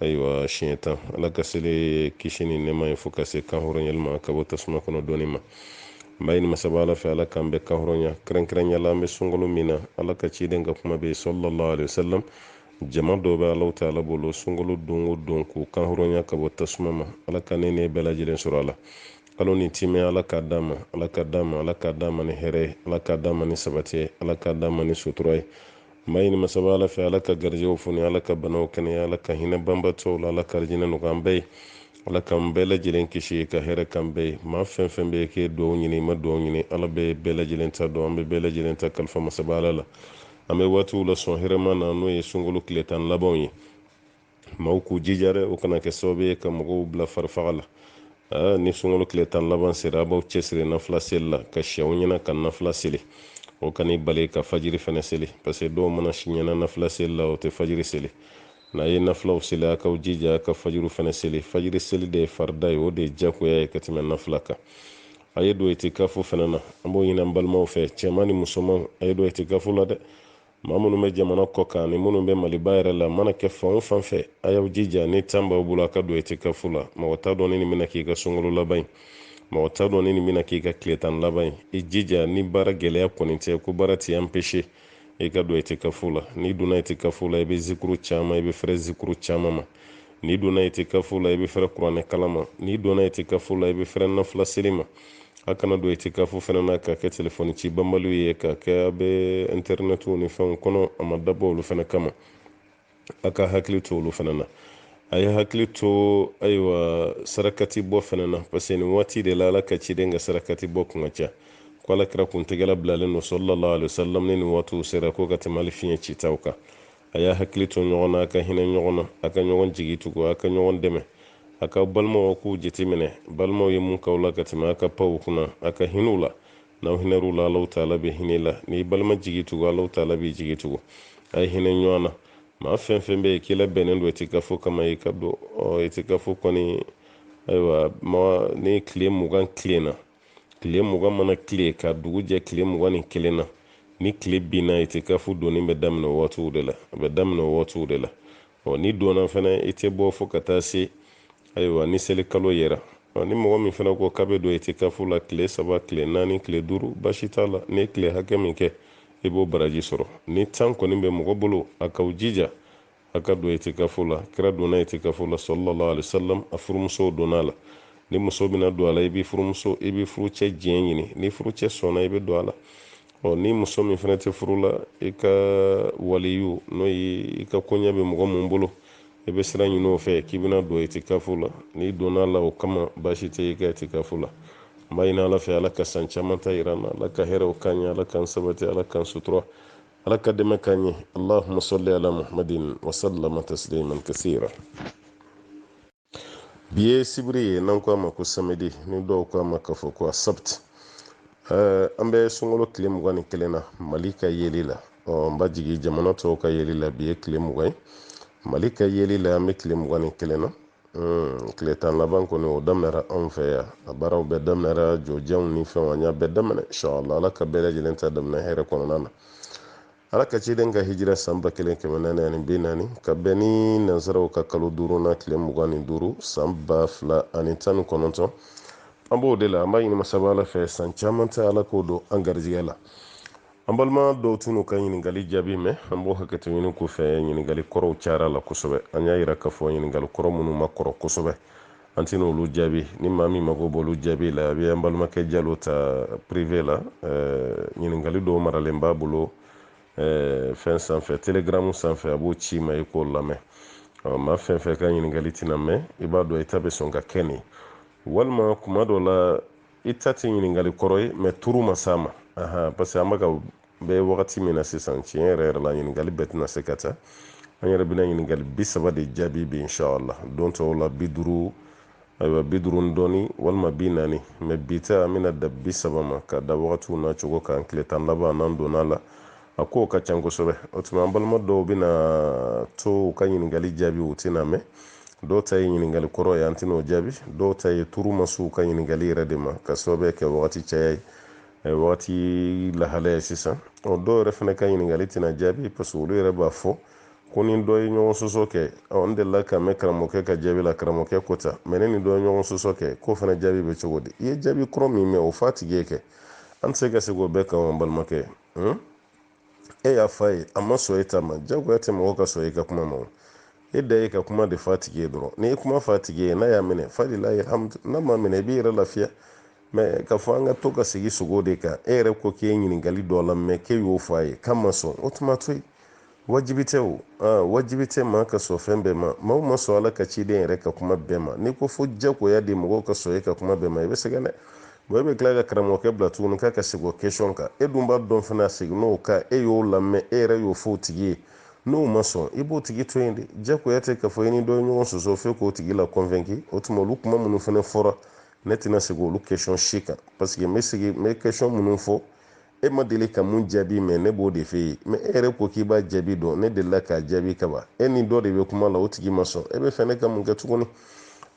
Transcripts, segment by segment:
ayiwa siɲɛ tan ala ka seli kisi ni nɛma ye fo ka se kan hɔrɔnyali ma ka bɔ tasuma kɔnɔ donni ma n b'a ɲini masaba ala fɛ ala k'an bɛ kan hɔrɔnya kɛrɛnkɛrɛnya la an bɛ sunkalo min na ala ka ciden ka kuma bɛ yen sallallahu alaihi wasallam jama dɔw bɛ ala taala bolo sunkalo don o don k'u kan hɔrɔnya ka bɔ tasuma ma ala ka ne n'e bɛɛ lajɛlen sɔrɔ a la kalo ni timɛ ala k'a d'an ma ni hɛrɛ ye ala k'a d'an ma ni sabati ye ala k'a d'an ma ni sutura ye n b'a ɲini masaba ala fɛ ala ka garijɛw foni ala ka banaw kɛnɛya ala ka hinɛ banbatɔw la ala k'arijinɛ nɔgɔy'an bɛɛ ye ala k'an bɛɛ lajɛlen kisi ka hɛrɛ k'an bɛɛ ye maa fɛn fɛn bɛ yen k'i ye dugawu ɲini i ma dugawu ɲini ala bɛ bɛɛ lajɛlen ta dɔn an bɛ bɛɛ lajɛlen ta kalifa masaba ala la an bɛ waatiw la sɔn hɛrɛma na n'o ye sunkalo tile tan labanw ye maaw k'u jija dɛ o kana kɛ sababu ye ka mɔgɔw bila farifaga la ni sunkalo tile tan laban sera a b'aw cɛsiri nafila seli la ka si aw ɲɛna ka nafila seli o kan'i bali ka fajiri fana seli parce que dɔw mana si ɲɛna nafila seli la o tɛ fajiri seli n'a ye nafilaw seli a k'aw jija ka fajiriw fana seli fajiri seli de ye farida ye o de ye jagoya ye ka tɛmɛ nafila kan a ye don itikafo fana na an b'o ɲini an balimaw fɛ cɛman ni musoman a ye don itikafo la dɛ maa minnu bɛ jamana kɔ kan ni minnu bɛ maliba yɛrɛ la mana kɛ fan fan fɛ a y'aw jija ni tan b'aw bolo a ka don itikafu la mɔgɔ t'a dɔn ni nin bɛna k'i ka sunkalo laban ye mɔgɔ t'a dɔn ni nin bɛna k'i ka tile tan laban ye i jija ni baara gɛlɛya kɔni tɛ ko baara t'i anpese i ka don itikafu la n'i donna itikafu la i bɛ zikuru caman i bɛ fɛrɛ zikuru caman ma n'i donna itikafo la i bɛ fɛrɛ kuranɛ kalan ma n'i donna itikafo la i bɛ fɛrɛ nafila seli ma a kana don itikafo fana na ka kɛ telefɔni ci banbaliw ye ka kɛ a bɛ intɛrinɛtiw ni fɛnw kɔnɔ a ma dabɔ olu fana kama a ka hakili to olu fana na a ye hakili to ayiwa sarakati bɔ fana na parce que nin waati de la ala ka ciden ka sarakati bɔ kun ka ca ko ala kira kun tigɛ labilalen don sallallahu alaihi wasallam ni nin waatiw sera ko ka tɛmɛ hali fiɲɛ citaw kan a y'a hakili to ɲɔgɔn na a ka hinɛ ɲɔgɔn na a ka ɲɔgɔn jigi tugu a ka ɲɔgɔn dɛmɛ a ka balimaw kow jateminɛ balimaw ye mun k'aw la ka tɛmɛ a ka pan u kunna a ka hin'u la n'aw hinɛr'u la ala taala bɛ hin'a la n'i y'i balima jigi tugu ala taala b'i jigi tugu a ye hinɛ ɲɔgɔn na maa fɛn fɛn bɛ yen k'i labɛnnen don itikafo kama i ka don itikafo kɔni ayiwa ma ni tile mugan tilenna tile mugan mana tile ka dugu jɛ tile mugan ni kelen na ni tile binna itikafu donni bɛ daminɛ o waatiw de la a bɛ daminɛ o waatiw de la ɔ n'i donna fana i tɛ bɔ fo ka taa se ayiwa ni seli kalo yera ɔ ni mɔgɔ min fana ko k'a bɛ don itikafu la tile saba tile naani tile duuru basi t'a la n'i ye tile hakɛ min kɛ i b'o baraji sɔrɔ ni tan kɔni bɛ mɔgɔ bolo a k'aw jija a ka don itikafo la kira donna itikafo la sallallahu alaihi wasallam a furumusow donna a la ni muso bɛna don a la i bɛ furumuso i bɛ furucɛ diɲɛ ɲini ni furucɛ sɔnna i bɛ don a la ɔ ni muso min fana tɛ furu la i ka waliyu n'o ye i ka koɲɛ bɛ mɔgɔ min bolo i bɛ sira ɲini o fɛ k'i bɛna don itikafo la n'i donna a la o kama baasi tɛ i ka itikafo la n b'a ɲini ala fɛ ala ka san caman ta yira an na ala ka hɛrɛw k'an ye ala k'an sabati ala k'an sutura ala ka dɛmɛ k'an ye allahumma salli ala muhammadin wasallama tasliman kasira bi ye sibiri ye n'an ko a ma ko samedi ni dɔw ko a ma k'a fɔ ko asabt eh, an bɛ sunkalo tile mugan ni kelen na mali ka yeli la ɔ n b'a jigi jamana tɔw ka yeli la bi ye tile mugan ye mali ka yeli la an bɛ tile mugan ni kelen na Hmm, tile tan laban kɔni o daminɛra anw fɛ yan a baaraw bɛɛ daminɛra jɔjanw ni fɛnw an y'a bɛɛ daminɛ inshallah ala ka bɛɛ lajɛlen ta daminɛ hɛrɛ kɔnɔna na ala ka ciden ka hijira san ba kelen kɛmɛ naani ani bi naani ka bɛn ni nansaraw ka kalo duuruna tile mugan ni duuru san ba fila ani tan ni kɔnɔntɔn an b'o de la an b'a ɲini masaba ala fɛ san caman ta ala k'o don an garijɛgɛ la an balima dɔw tɛn'u ka ɲininkali jaabi mɛn an b'o hakɛto ɲini k'u fɛ ɲininkali kɔrɔw cayara a la kosɛbɛ an y'a yira k'a fɔ ɲininkali kɔrɔ minnu ma kɔrɔ kosɛbɛ an tɛna olu jaabi ni maa min mago b'olu jaabi la a bɛ an balimakɛ jalo ta prive la ɲininkali dɔw maralen b'a bolo fɛn sanfɛ telegramu sanfɛ a b'o ci i ma i k'o lamɛn maa fɛn fɛn ka ɲininkali tɛna mɛn i b'a dɔn i ta bɛ sɔn ka kɛ nin walima tuma dɔ la i ta tɛ ɲininkali kɔrɔ ye mɛ turu ma s'a ma parce que an bɛ ka bɛ wagati min na sisan tiɲɛ yɛrɛ yɛrɛ la ɲininkali bɛɛ tɛna se ka ta an yɛrɛ bɛna ɲininkali bi saba de jaabi bi inshallah don tɔw la bi duuru ayiwa bi duuru ni dɔɔni walima bi naani mɛ bi ta an bɛna dan bi saba ma ka da wagatiw na cogo kan tile tan laban n'an donna a la a kow ka ca kosɛbɛ o tuma an balima dɔw bɛna to u ka ɲininkali jaabi u tɛn'a mɛn dɔw ta ye ɲininkali kɔrɔ ye an tɛna o jaabi dɔw ta ye turu ma se u ka ɲininkali yɛrɛ de ma ka sababu kɛ wagati caya ye eh, wagati lahalaya ye sisan ɔ dɔw yɛrɛ fana ka ɲininkali tɛna jaabi parce que olu yɛrɛ b'a fɔ k'u ni dɔ ye ɲɔgɔn sɔsɔ kɛ ɔ n delila k'a mɛn karamɔgɔkɛ ka jaabi la karamɔgɔkɛ ko tan mɛ ne ni dɔ ye ɲɔgɔn sɔsɔ kɛ k'o fana jaabi bɛ cogo di i ye jaabi kɔrɔ min mɛn o f'a tigi ye kɛ an tɛ se ka segin o bɛɛ kan an balimakɛ hmm? e y'a fɔ a ye a ma sɔn e ta ma jagoya tɛ mɔgɔ ka sɔn e ka kuma ma e dan ye ka kuma de f'a tigi ye dɔrɔn n'i ye kuma f'a tigi ye n'a y'a minɛ falillahi alhamdu n'a m'a minɛ i b'i yɛrɛ lafiya mɛ k'a fɔ an ka to ka segin segin o de kan e yɛrɛ ko k'e ye ɲininkali dɔ lamɛn k'e y'o fɔ a ye k'a ma sɔn o tuma a to yen wajibi tɛ o aa wajibi tɛ maa ka sɔn fɛn bɛɛ ma maaw ma sɔn ala ka ciden yɛrɛ ka kuma bɛɛ ma n'i ko fo jagoya de mɔgɔw ka sɔn e ka kuma bɛɛ ma i bɛ sɛgɛn dɛ bɔn e bɛ tila ka karamɔgɔkɛ bila tuguni k'a ka segin o kesɔn kan e dun b'a dɔn fana a seginn'o kan e y'o lamɛn e yɛrɛ y'o fɔ o tigi ye n'o ma sɔn i b'o tigi to yen de jagoya tɛ k'a fɔ i ni dɔ ye ɲɔgɔn sɔsɔ f'e k'o tigi la convaincre o tuma olu kuma minnu fana fɔra ne tɛna segin olu kesɔn si kan paseke n bɛ segin n bɛ kesɔn minnu fɔ e ma deli ka mun jaabi mɛn ne b'o de f'e ye mɛ e yɛrɛ ko k'i b'a jaabi dɔn ne delila k'a jaabi kaban e ni dɔ de bɛ kuma la o tigi ma sɔn e b'a fɛ ne ka mun kɛ tuguni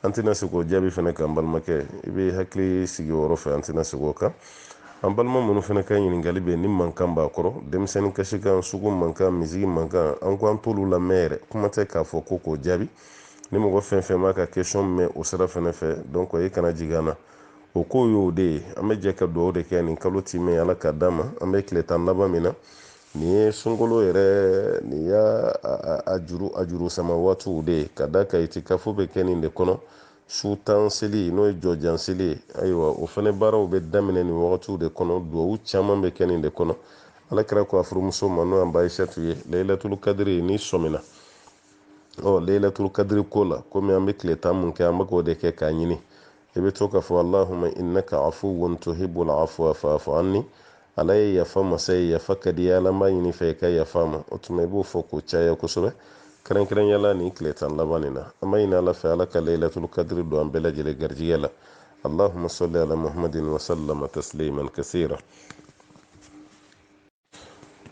an tɛna se k'o jaabi fana kan balimakɛ i bɛ hakili sigi o yɔrɔ fɛ an tɛna se k'o kan an balima minnu fana ka ɲininkali bɛ ni mankan b'a kɔrɔ denmisɛnnin kasikan sugu mankan misigi mankan an ko an t'olu lamɛn yɛrɛ kuma tɛ k'a fɔ ko k'o jaabi ni mɔgɔ fɛn fɛn b'a ka kesɔn mɛn o sira fana fɛ dɔnki e kana jigin an na o ko ye o de ye an bɛ jɛ ka dugawu de kɛ nin kalo timɛ ala k'a d'an ma an bɛ tile tan laban min na nin ye sunkalo yɛrɛ nin y'a a juru a juru sama waatiw de ye ka da ka itikafu bɛ kɛ nin de kɔnɔ su tan seli n'o ye jɔjan seli ye ayiwa o fana baaraw bɛ daminɛ nin wagatiw de kɔnɔ dugawu caman bɛ kɛ nin de kɔnɔ ala kira ko a furumuso ma n'o an ba ayisatu ye layilatulu kadiri n'i sɔmina ɔ leilatul kadiri ko la komi an bɛ tile tan mun kɛ an bɛ k'o de kɛ k'a ɲini i bɛ to k'a fɔ allahuma innaka afuwun tuhibbul afwa fa'fu anni ala ye yafa masa ye yafa ka di ala b'a ɲini i fɛ i ka yafa n ma o tuma i b'o fɔ k'o caya kosɛbɛ kɛrɛnkɛrɛnya la nin tile tan laban nin na an b'a ɲini ala fɛ ala ka leilatul kadiri don an bɛɛ lajɛlen garijigɛ la allahuma salli ala muhammadin wa sallama tasliman kasira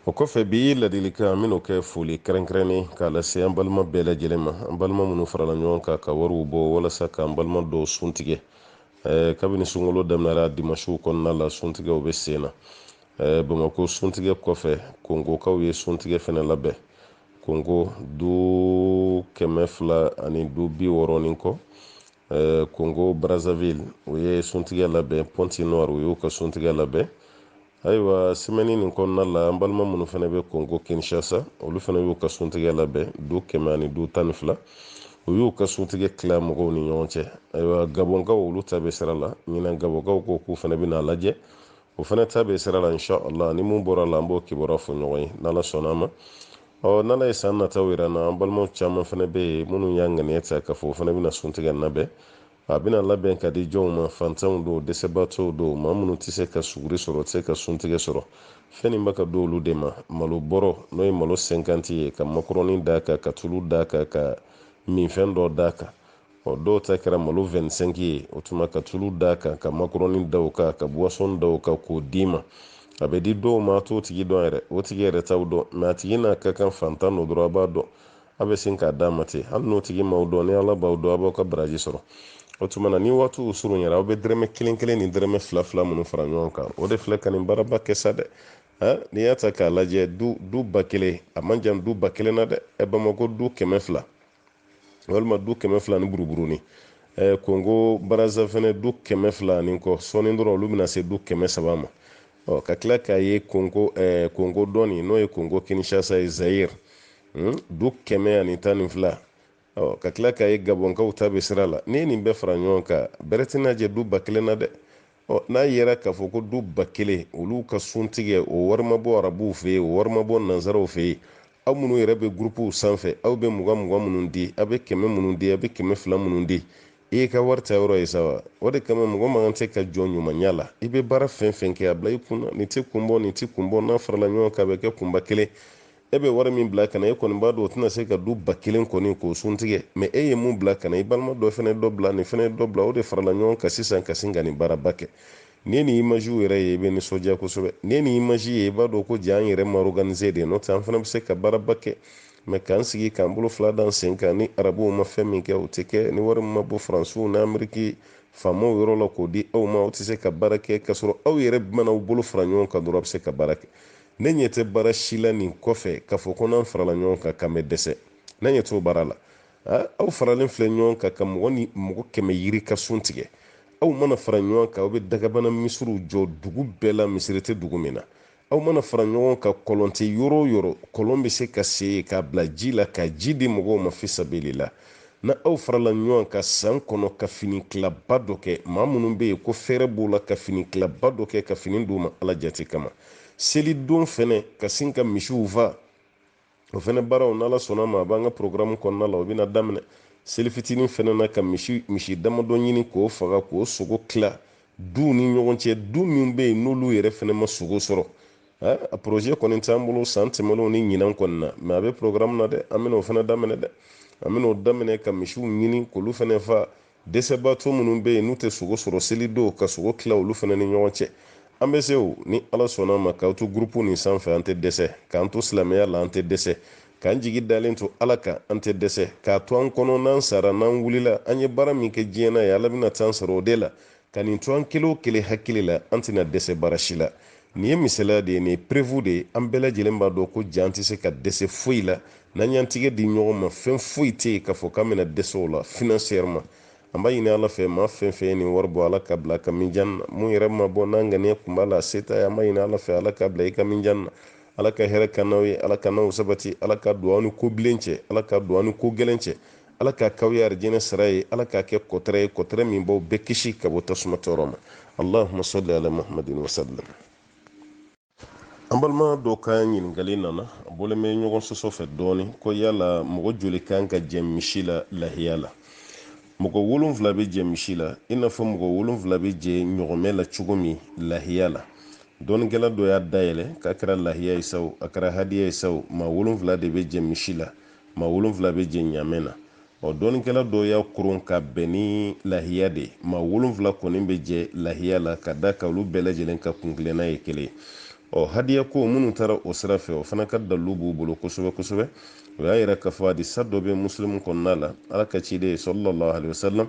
o kɔfɛ bi ladilikan minnu kɛ foli kɛrɛnkɛrɛnnen k'a lase an balima bɛɛ lajɛlen ma an balima minnu farala ɲɔgɔn kan ka wariw bɔ walasa k'an balima dɔw sun tigɛ kabini sunkalo daminɛra dimasiw kɔnɔna la suntigɛw bɛ sen na bamako suntigɛ kɔfɛ kongokaw ye suntigɛ fana labɛn kongo du kɛmɛ fila ani du bi wɔɔrɔ ni kɔ eh, congo brazzaville u ye suntigɛ labɛn pointe-noire u y'u ka suntigɛ labɛn ayiwa semɛni nin kɔnɔna la an balima minnu fana bɛ congo kinshasa olu fana y'u ka suntigɛ labɛn du kɛmɛ ani du tan ni fila u y'u ka suntigɛ tila mɔgɔw ni ɲɔgɔn cɛ ayiwa gabɔnkaw olu ta bɛ sira la ɲinan gabɔnkaw ko k'u fana bɛna a lajɛ u fana ta bɛ sira la inshallah ni mun bɔra a la an b'o kibaruya fɔ ɲɔgɔn ye n'ala sɔnna a ma ɔ n'ala ye san nataw yira an na an balimaw caman fana bɛ yen minnu y'a ŋaniya ta k'a fɔ u fana bɛna suntigɛ labɛn a bɛna labɛn k'a di jɔnw ma fantanw don dɛsɛbaatɔw don maa minnu tɛ se ka suguri sɔrɔ tɛ se ka suntigɛ sɔrɔ fɛn nin bɛ ka di olu de ma malo bɔrɔ n'o ye malo sɛnkanti ye ka makɔrɔni d'a kan ka tulu d'a kan ka minfɛn dɔ d'a kan ɔ dɔw ta kɛra malo 25 ye o tuma ka tulu d'a kan ka makorɔni da o kan ka buwasɔn da o kan k'o d'i ma a bɛ di dɔw ma a t'o tigi dɔn yɛrɛ o tigi yɛrɛ t'aw dɔn mɛ a tigi n'a ka kan fantan don dɔrɔn a b'a dɔn a bɛ sin k'a d'a ma ten hali n'o tigi m'aw dɔn ni ala b'aw dɔn a b'aw ka baraji sɔrɔ o tuma na ni waatiw surunyara aw bɛ dɛrɛmɛ kelen kelen ni dɛrɛmɛ fila fila minnu fara ɲɔgɔn kan o de filɛ ka nin baaraba kɛ sa dɛ n'i y'a ta k'a lajɛ du du ba kelen a man jan du ba kelen na dɛ ɛ bamako du kɛmɛ fila walima du kɛmɛ fila ni buruburunin eh, kongo baraza fɛnɛ du kɛmɛ fila ni kɔ sɔɔni dɔrɔn olu bɛna se du kɛmɛ saba ma ɔ ka tila k'a ye kongo eh, kongo dɔ nin n'o ye kongo kinshasa ye zayir hmm? du kɛmɛ ani tan ni fila ɔ ka tila k'a ye gabɔnkaw ta bɛ sira la n'i ye nin bɛɛ fara ɲɔgɔn kan bɛrɛ tɛna jɛ du ba kelen na dɛ Ɔ n'a yera k'a fɔ ko du ba kelen olu ka suntigɛ o wari ma bɔ arabuw fɛ yen o wari ma bɔ nanzaraw fɛ yen aw minnu yɛrɛ bɛ gurupuw sanfɛ aw bɛ mugan mugan minnu di aw bɛ kɛmɛ minnu di aw bɛ kɛmɛ fila minnu di i y'i ka wari taayɔrɔ ye sa wa o de kama mɔgɔ man kan tɛ ka jɔn ɲumanya la i bɛ baara fɛn fɛn kɛ a bila i kun na nin tɛ kun bɔ nin tɛ kun bɔ n'a farala ɲɔgɔn kan a bɛ kɛ kunba kelen e bɛ wari min bila ka na e kɔni b'a dɔn o tɛna se ka du ba kelen kɔni k'o sun tigɛ mɛ e ye mun bila ka na i balima dɔ fana dɔ bila nin fana dɔ bila o de farala ɲɔgɔn kan sisan ka sin ka nin baaraba kɛ n'i ye nin imaziw yɛrɛ ye i bɛ nisɔndiya kosɛbɛ n'i ye nin imazi ye i b'a dɔn ko jaa an yɛrɛ ma organize de n'o tɛ an fana bɛ se ka baaraba kɛ mɛ k'an sigi k'an bolo fila d'an sen kan ni arabuw ma fɛn min kɛ o tɛ kɛ ni wari min ma bɔ faransiw ni ameriki faamaw yɔrɔ la k'o di aw ma aw tɛ se ka baara kɛ k'a sɔrɔ aw yɛrɛ mana aw bolo fara ɲɔgɔn kan dɔrɔn a bɛ se ka baara kɛ ne ɲɛ tɛ baara si la nin kɔfɛ k'a fɔ ko n'an farala ɲɔgɔn kan k'an bɛ dɛsɛ ne ɲɛ t'o baara la aw faralen filɛ ɲɔgɔn kan ka mɔgɔ ni mɔgɔ kɛmɛ yirika sun tigɛ aw mana fara ɲɔgɔn kan aw bɛ dagabana misiriw jɔ dugu bɛɛ la misiri tɛ dugu min na aw mana fara ɲɔgɔn kan kɔlɔn tɛ yɔrɔ o yɔrɔ kɔlɔn bɛ se ka sen k'a bila ji la ka ji di mɔgɔw ma fisabilila n'aw farala ɲɔgɔn kan san kɔnɔ ka fini tilaba dɔ kɛ maa minnu bɛ yen ko fɛɛrɛ b'u la ka fini tilaba dɔ kɛ ka fini d'u ma ala jate kama seli don fɛnɛ ka sin ka misiw fa o fɛnɛ baaraw n'ala sɔnna ma a b'an ka porogaramu kɔnɔna la o bɛna daminɛ seli fitinin fɛnɛ na ka misi misi damadɔ ɲini k'o faga k'o sogo tila duw ni ɲɔgɔn cɛ du min bɛ yen n'olu yɛrɛ fɛnɛ ma sogo sɔrɔ a projet kɔni t'an bolo san tɛmɛnenw ni ɲinan kɔni na mɛ a bɛ porogaramu na dɛ an bɛna o fɛnɛ daminɛ dɛ an bɛna o daminɛ ka misiw ɲini k'olu fɛnɛ fa dɛsɛbaatɔ minnu bɛ yen n'u tɛ sogo sɔrɔ seli don ka sogo tila olu fana ni ɲɔgɔn cɛ an bɛ se o ni ala sɔnna ma k'aw to gurupu nin sanfɛ an tɛ dɛsɛ k'an to silamɛya la an tɛ dɛsɛ k'an jigi dalen to ala kan an tɛ dɛsɛ k'a to an kɔnɔ n'an sara n'an wulila an ye baara min kɛ diɲɛ na yen ala bɛna t'an sara o de la ka nin to an kelen o kelen hakili la an tɛna dɛsɛ baara si la nin ye misaliya de ye nin ye perewu de ye an bɛɛ lajɛlen b'a dɔn ko ja an tɛ se ka dɛsɛ foyi la n'an y'an tigɛ di ɲɔgɔn ma fɛn foyi tɛ yen k'a fɔ k'an bɛna dɛsɛ o la finansiyɛriman an b'a ɲini ala fɛ maa fɛn fɛn ye nin wari bɔ ala k'a bila a ka minjan na min yɛrɛ m'a bɔ n'a ŋaniya kun b'a la a se t'a ye an b'a ɲini ala fɛ ala k'a bila i ka minjan na ala ka hɛrɛ k'an n'aw ye ala k'an n'aw sabati ala ka don aw ni ko bilen cɛ ala ka don aw ni ko gɛlɛn cɛ ala k'a k'aw ye arijinɛ sara ye ala k'a kɛ kɔtɛrɛ ye kɔtɛrɛ min b'aw bɛɛ kisi ka bɔ tasuma tɔɔrɔ ma allahuma salli ala muhamadin wasallam an balima dɔ ka ɲininkali nana a bɔlen bɛ ɲɔgɔn sɔsɔ fɛ dɔɔni ko yala mɔgɔ joli kan ka jɛ misi la lahiya la mɔgɔ wolonfila bɛ jɛ misi la i n'a fɔ mɔgɔ wolonfila bɛ jɛ ɲɔgɔmɛ la cogo min lahiya la dɔnnikɛla dɔ y'a dayɛlɛ k'a kɛra lahiya ye sa o a kɛra hadiya ye sa o maa wolonfila de bɛ jɛ misi la maa wolonfila bɛ jɛ ɲamɛ na ɔ dɔnnikɛla dɔw y'a koron ka bɛn ni lahiya de ye maa wolonfila kɔni bɛ jɛ lahiya la ka d'a kan olu bɛɛ lajɛlen ka kunkilenna ye kelen ye hadiya ko minnu taara o sira fɛ o fana ka dalu b'u bolo kosɛbɛ kosɛbɛ o y'a yira k'a fɔ hadisa dɔ bɛ musilimu kɔnɔna la ala ka ciden sallallahu alaihi wasallam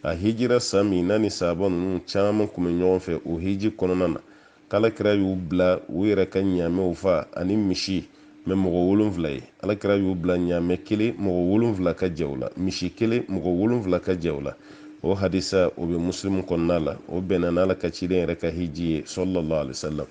a hijira san min n'a ni sahaba ninnu caman kun bɛ ɲɔgɔn fɛ o hiji kɔnɔna na k'alakira y'u bila u yɛrɛ ka ɲaamɛw fa ani misi mɛ mɔgɔ wolonfila ye alakira y'u bila ɲaamɛ kelen mɔgɔ wolonfila ka jɛ o la misi kelen mɔgɔ wolonfila ka jɛ o la o hadisa o bɛ musilimu kɔnɔna la o bɛnna n'ala ka ciden yɛrɛ ka hiji ye sallallahu alaihi wasallam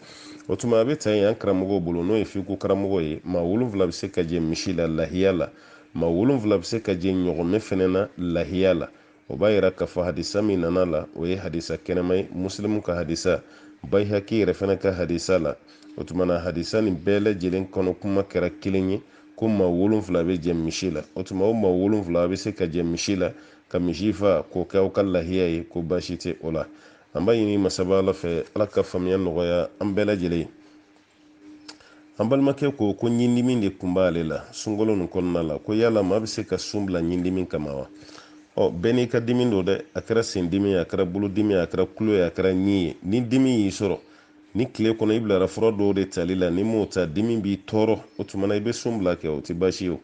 o tuma a bɛ ta yen an karamɔgɔw bolo n'o ye fiku karamɔgɔ ye maa wolonfila bɛ se ka jɛ misi la lahiya la maa wolonfila bɛ se ka jɛ ɲɔgɔmɛ fɛnɛ na lahiya la o b'a yira k'a fɔ hadisa min nana a la o ye hadisa kɛnɛman ye musilimu ka hadisa bayihaki yɛrɛ fɛnɛ ka hadisa la o tuma na hadisa nin bɛɛ lajɛlen kɔnɔkuma kɛra kelen ye ko maa wolonfila bɛ jɛ misi la o tuma o maa wolonfila bɛ se ka jɛ misi la ka misi fa k'o kɛ aw ka lahiya ye ko baasi tɛ o la an b'a ɲini masaba ala fɛ ala ka faamuya nɔgɔya an bɛɛ lajɛlen an balimakɛ ko ko ɲindimi de kun b'ale la sunkalo nin kɔnɔna la ko yala maa bɛ se ka sun bila ɲindimi kama wa ɔ bɛɛ n'i ka dimi don dɛ a kɛra sen dimi a kɛra bolo dimi a kɛra kulo ye a kɛra ɲi ye ni dimi y'i sɔrɔ ni tile kɔnɔ i bilara fura dɔw de tali la n'i m'o ta dimi b'i tɔɔrɔ o tuma na i bɛ sun bila kɛ o tɛ baasi ye o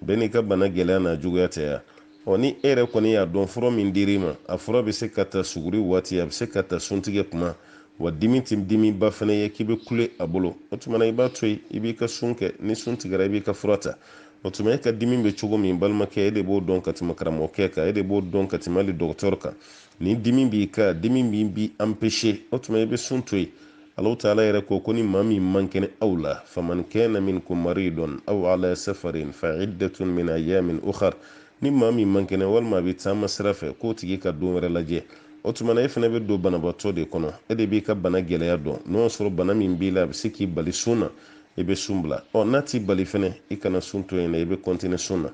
bɛɛ n'i ka bana gɛlɛya n'a juguya tɛ ya ɔ ni e yɛrɛ kɔni y'a dɔn fura min dir'i ma a fura bɛ se ka ta suguri waati a bɛ se ka ta suntigɛ kuma wa dimi tɛ dimiba fana ye k'i bɛ kule a bolo o tuma na i b'a to yen i b'i ka sun kɛ ni sun tigɛra i b'i ka fura ta o tuma e ka dimi bɛ cogo min balimakɛ e de b'o dɔn ka tɛmɛ karamɔgɔkɛ kan e de b'o dɔn ka tɛmɛ hali dɔgɔtɔrɔ kan ni dimi b'i kan dimi min b'i anpese o tuma i bɛ sun to yen Allahu taala yɛrɛ ko ko ni maa min man kɛnɛ aw la faman kana minkum maridun aw ala safarin fa iddatun min ayamin ukhar ni maa min man kɛnɛ walima a bɛ taama sira fɛ k'o tigi ka don wɛrɛ lajɛ o tuma na e fɛnɛ bɛ don banabaatɔ de kɔnɔ e de b'i ka bana gɛlɛya dɔn n'o y'a sɔrɔ bana min b'i la a bɛ se k'i bali sun na i bɛ sun bila ɔ n'a t'i bali fɛnɛ i kana sun to yen dɛ i bɛ kɔntine sun na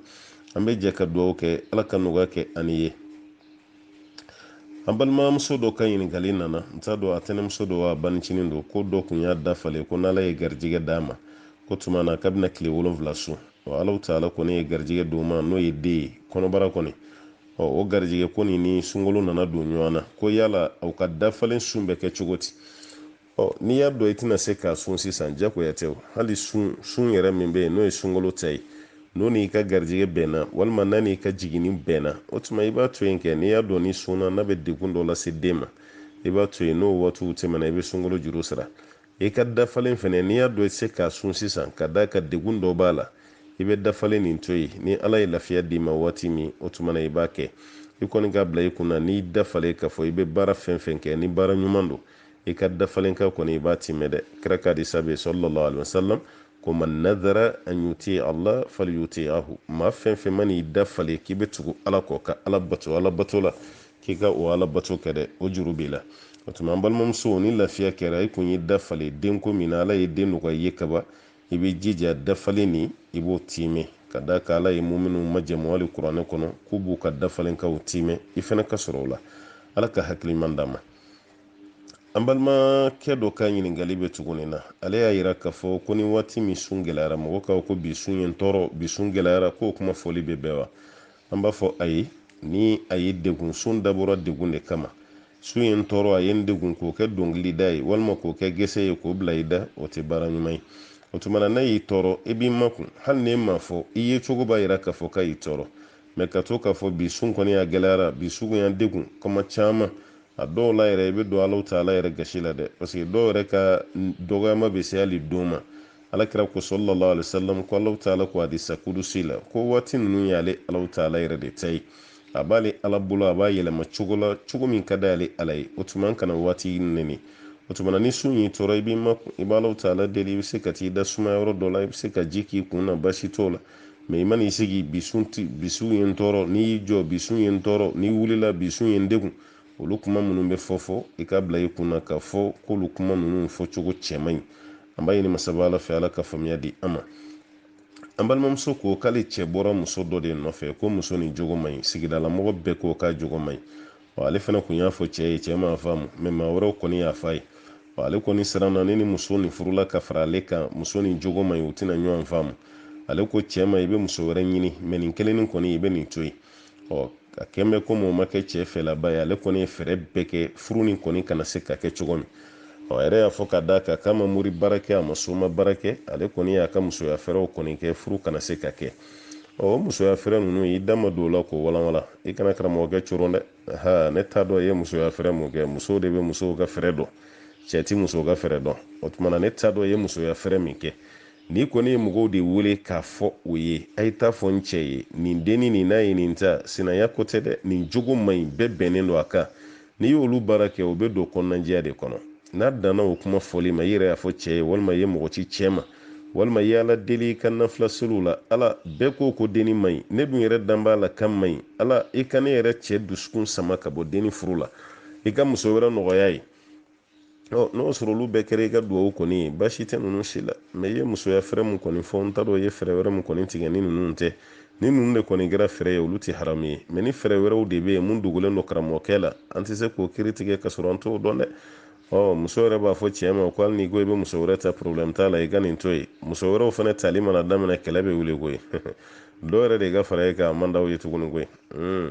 an bɛ jɛ ka dugawu kɛ ala ka nɔgɔya kɛ ani ye an balimamuso dɔ ka ɲininkali nana n t'a dɔn a tɛnɛmuso don wa banincinin don ko dɔ kun y'a dafalen ko n'ala ye garijɛgɛ d'a ma k'o tuma na k'a bɛna tile wolonfila sun ɔ Allahu taala kɔni ye garijɛgɛ d'o ma n'o ye den ye kɔnɔbara kɔni ɔ o garijɛgɛ ko nin ni sunkalo nana don ɲɔgɔn na ko yala aw ka dafalen sun bɛ kɛ cogo di ɔ n'i y'a dɔn i tɛna se k'a sun sisan jagoya tɛ hali sun sun yɛrɛ min bɛ yen n'o ye sunkalo ta ye n'o n'i ka garijɛgɛ bɛnna walima n'a n'i ka jiginni bɛnna o tuma i b'a to yen kɛ n'i y'a dɔn n'i sunna n'a bɛ degun dɔ lase den ma i b'a to yen n'o waatiw tɛmɛna i bɛ sunkalo juru sara i ka dafalen fɛnɛ n'i y'a dɔn i tɛ se k'a sun sisan ka d'a kan degun dɔ b'a la i bɛ dafalen nin to yen ni ala ye lafiya d'i ma waati min o tuma na i b'a kɛ i kɔni k'a bila i kun na n'i dafalen k'a fɔ i bɛ baara fɛn fɛn kɛ ni baara ɲuman don i ka dafalenkan kɔni i b'a timɛ dɛ kira ka hadisa bɛ sallallahu alaihi wasallam ko man nadara an yuti allah fal yuti ahu maa fɛn fɛn man'i dafalen k'i bɛ tugu ala kɔ ka ala bato ala bato la k'i ka o ala bato kɛ dɛ o juru b'i la o tuma an balimamuso ni lafiya kɛra i kun y'i dafalen denko min na ala ye den nɔgɔya i ye kaban i bɛ jija dafalen nin i b'o timɛ ka d'a kan ala ye muminw majɛmu alikuranɛ kɔnɔ k'u b'u ka dafalenkanw timɛ i fana ka sɔrɔ o la ala ka hakili ɲuman d'an ma an balimakɛ dɔ ka ɲininkali bɛ tuguni na ale y'a yira k'a fɔ ko ni waati min sun gɛlɛyara mɔgɔ kan ko bi sun ye n tɔɔrɔ bi sun gɛlɛyara k'o kuma fɔli bɛ bɛn wa an b'a fɔ ayi ni a y'i degun sun dabɔra degun de kama sun ye n tɔɔrɔ a ye n degun k'o kɛ dɔnkili da ye walima k'o kɛ gɛsɛ ye k'o bila i da o tɛ baara ɲuman ye o tuma na n'a y'i tɔɔrɔ i b'i makun hali n'e m'a fɔ i yecogo b'a yira k'a fɔ k'a y'i tɔɔrɔ mɛ ka to k'a fɔ bi sun kɔni a gɛlɛyara bi sun y'an degun kuma caman a dɔw la yɛrɛ i bɛ don Allahu taala yɛrɛ gasi la dɛ parce que dɔw yɛrɛ ka dɔgɔyama bɛ se hali don ma ala kira ko sallallahu alaihi wasallam ko Allahu taala ko hadisa kudusi la ko waati ninnu y'ale Allahu taala yɛrɛ de ta ye a b'ale ala bolo a b'a yɛlɛma cogo la cogo min ka d'ale ala ye o tuma an kana waati nɛni o tuma ni sun y'i tɔɔrɔ i b'i makun i b'Allahu taala deli i bɛ se ka t'i da suma yɔrɔ dɔ la i bɛ se ka ji k'i kun na basi t'o la mɛ i mana i sigi bi sun ye n tɔɔrɔ n'i y'i jɔ bi sun ye n tɔɔrɔ n'i wulila bi sun ye n degun olu kuma minnu bɛ fɔ fɔ i k'a bila i kun na k'a fɔ k'olu kuma ninnu fɔcogo cɛ man ɲi an b'a ɲini masaba ala fɛ ala ka faamuya di an ma an balimamuso ko k'ale cɛ bɔra muso dɔ de nɔfɛ ko muso nin jogo man ɲi sigidalamɔgɔ bɛɛ ko k'a jogo man ɲi wa ale fana kun y'a fɔ cɛ ye cɛ m'a faamu mɛ maa wɛrɛw kɔni y'a f'a ye wa ale kɔni siranna ne ni muso nin furula ka fara ale kan muso nin jogo man ɲi u tɛna ɲɔgɔn faamu ale ko cɛ ma i bɛ muso wɛrɛ ɲini mɛ nin kelen nin kɔni i bɛ nin to yen ɔ a kɛn bɛ komi o ma kɛ cɛ fɛlaba ye ale kɔni ye fɛɛrɛ bɛɛ kɛ furu nin kɔni kana se ka kɛ cogo min ɔ a yɛrɛ y'a fɔ ka d'a kan k'a ma mori baara kɛ a ma soma baara kɛ ale kɔni y'a ka musoya fɛɛrɛw kɔni kɛ furu kana se ka kɛ ɔ o musoya fɛɛrɛ ninnu i da ma don o la k'o walanwalan i kana karamɔgɔkɛ coron dɛ ha ne t'a dɔn i ye musoya fɛɛrɛ mun kɛ musow de bɛ musow ka fɛɛrɛ dɔn cɛ ti musow ka fɛɛrɛ dɔn o tuma na ne t'a dɔn i ye musoya fɛɛrɛ min kɛ n'i kɔni ye mɔgɔw de wele k'a fɔ o ye a ye t'a fɔ n cɛ ye nin denni nin n'a ye nin ta sinanya ko tɛ dɛ nin jogo man ɲi bɛɛ bɛnnen don a kan n'i y'olu baara kɛ o bɛ don kɔnɔnajɛya de kɔnɔ n'a danna o kuma fɔli ma i yɛrɛ y'a fɔ cɛ ye walima i ye mɔgɔ ci cɛ ma walima i ye ala deli i ka nafila seliw la ala bɛɛ ko ko denni man ɲi ne dun yɛrɛ dan b'a la k'a man ɲi ala i ka ne yɛrɛ cɛ dusukun sama ka bɔ denni furu la i ka muso wɛrɛ nɔgɔya a ye ɔ n'o sɔrɔ olu bɛɛ kɛra i ka duwawu kɔni ye baasi tɛ ninnu si la mɛ i ye musoya fɛɛrɛ min kɔni fɔ n t'a dɔn i ye fɛɛrɛ wɛrɛ min kɔni tigɛ ni ninnu tɛ ni ninnu de kɔni kɛra fɛɛrɛ ye olu tɛ haramu ye mɛ ni fɛɛrɛ wɛrɛw de bɛ yen min dogolen don karamɔgɔkɛ la an tɛ se k'o kiri tigɛ ka sɔrɔ an t'o dɔn dɛ ɔ muso yɛrɛ b'a fɔ cɛ ma ko hali n'i ko i bɛ muso wɛrɛ ta problɛmu t'a la i ka nin to yen muso wɛrɛw fana tali mana daminɛ kɛlɛ bɛ wuli koyi dɔw yɛrɛ de ka fara e kan a man d'aw ye tuguni koyi hmm.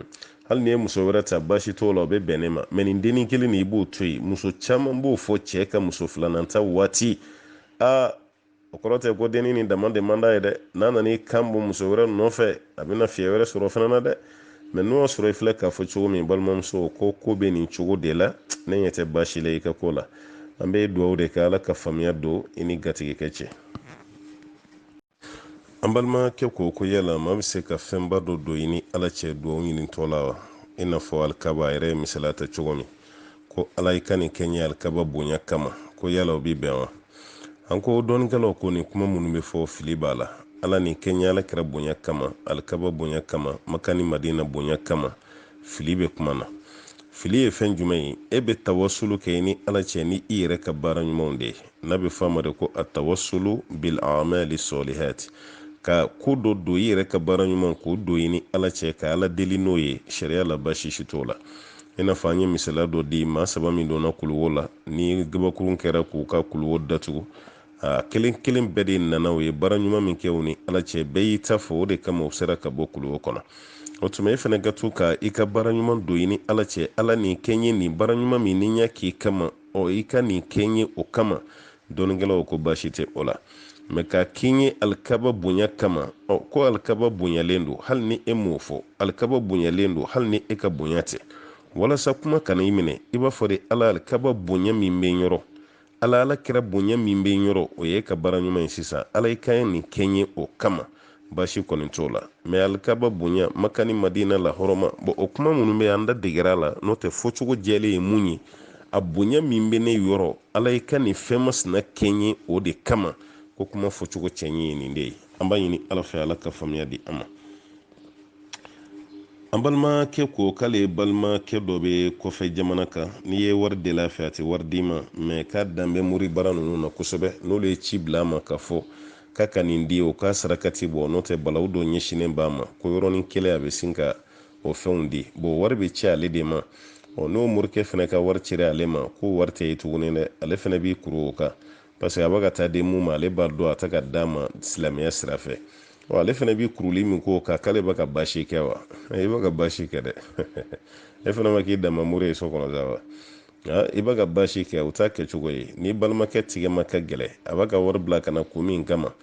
hali n'i ye muso wɛrɛ ta baasi t'o la o bɛ bɛn ne ma mɛ nin dennin kelen nin i b'o to yen muso caman b'o fɔ cɛ ka muso filanan ta waati aa o kɔrɔ tɛ ko dennin nin dama de man d'a ye dɛ n'a nana i kan bɔ muso wɛrɛ nɔfɛ a bɛna fiɲɛ wɛrɛ sɔrɔ o fana na dɛ mɛ n'o y'a sɔrɔ i filɛ k'a fɔ cogo min balimamuso ko ko bɛ nin cogo de la ne ɲɛ tɛ baasi la i ka ko la an bɛ dugawu de kɛ ala ka faamuya don i ni gatigikɛ cɛ an balimakɛ ko ko yala maa bɛ se ka fɛnba dɔ don i ni ala cɛ dugawu ɲinitɔ la wa i n'a fɔ alikaba a yɛrɛ ye misaliya ta cogo min ko ala i ka nin kɛ n ye alikaba bonya kama ko yala o bɛ bɛn wa an ko dɔnnikɛlaw ko nin kuma minnu bɛ fɔ fili b'a la ala nin kɛ n ye ala kira bonya kama alikaba bonya kama maka ni madina bonya kama fili bɛ kuma na fili ye fɛn jumɛn ye e bɛ tawasulu kɛ i ni ala cɛ ni i yɛrɛ ka baara ɲumanw de ye n'a bɛ f'a ma de ko atawasulu bil amali sɔlihati ka ko dɔ don i yɛrɛ ka baara ɲuman k'o don i ni ala cɛ ka ala deli n'o ye sariya la baasi si t'o la i n'a fɔ an ye misaliya dɔ di maa saba min donna kuluwo la ni gabakurun kɛra k'u ka kuluwo datugu a kelen kelen bɛɛ de nana u ye baara ɲuman min kɛ u ni ala cɛ bɛɛ y'i ta fɔ o de kama u sera ka bɔ kuluwo kɔnɔ o tuma e fana ka to ka i ka baara ɲuman don i ni ala cɛ ala nin kɛ n ye nin baara ɲuman min ni n y'a k'i kama ɔ i ka nin kɛ n ye o kama dɔnnikɛlaw ko baasi tɛ o la mɛ k'a k'i ye alikaba bonya kama ɔ ko alikaba bonyalen don hali ni e m'o fɔ alikaba bonyalen don hali ni e ka bonya tɛ walasa kuma kana i minɛ i b'a fɔ de ala alikaba bonya min bɛ n yɔrɔ ala ala kira bonya min bɛ n yɔrɔ o ye i ka baara ɲuman ye sisan ala i ka nin kɛ n ye o kama baasi kɔni t'o la mɛ alikaba bonya maka ni madina la hɔrɔma bɔn o kuma minnu bɛ an da degera la n'o tɛ fɔcogo jɛlen ye mun ye a bonya min bɛ ne yɔrɔ ala i ka nin fɛn masina kɛ n ye o de kama ko kuma fɔcogo jɛ ye nin de ye an b'a ɲini ala fɛ ala ka faamuya di an ma an balimakɛ ko k'ale balimakɛ dɔ bɛ kɔfɛ jamana kan n'i ye wari deli a fɛ a tɛ wari d'i ma mɛ k'a dan bɛ mori baara ninnu na kosɛbɛ n'olu ye ci bila a ma k'a fɔ k'a ka nin di o k'a sarakati bɔ n'o tɛ balawu dɔ ɲɛsinnen b'a ma ko yɔrɔnin kelen a bɛ sin ka o fɛnw di bɔn wari bɛ ci ale de ma ɔ n'o morikɛ fana ka wari cira ale ma k'o wari tɛ ye tuguni dɛ ale fana b'i kuru o kan parce que a bɛ ka taa di mun ma ale b'a dɔn a tɛ k'a d'a ma silamɛya sira fɛ ɔ ale fana bɛ kuruli min k'o kan k'ale bɛ ka baasi kɛ wa i bɛ ka baasi kɛ dɛ e fana ma k'i dama mori ye so kɔnɔ sa wa i bɛ ka baasi kɛ o t'a kɛcogo ye n'i balimakɛ tigɛ ma ka gɛlɛn a b'a ka wari bila ka na kun min kama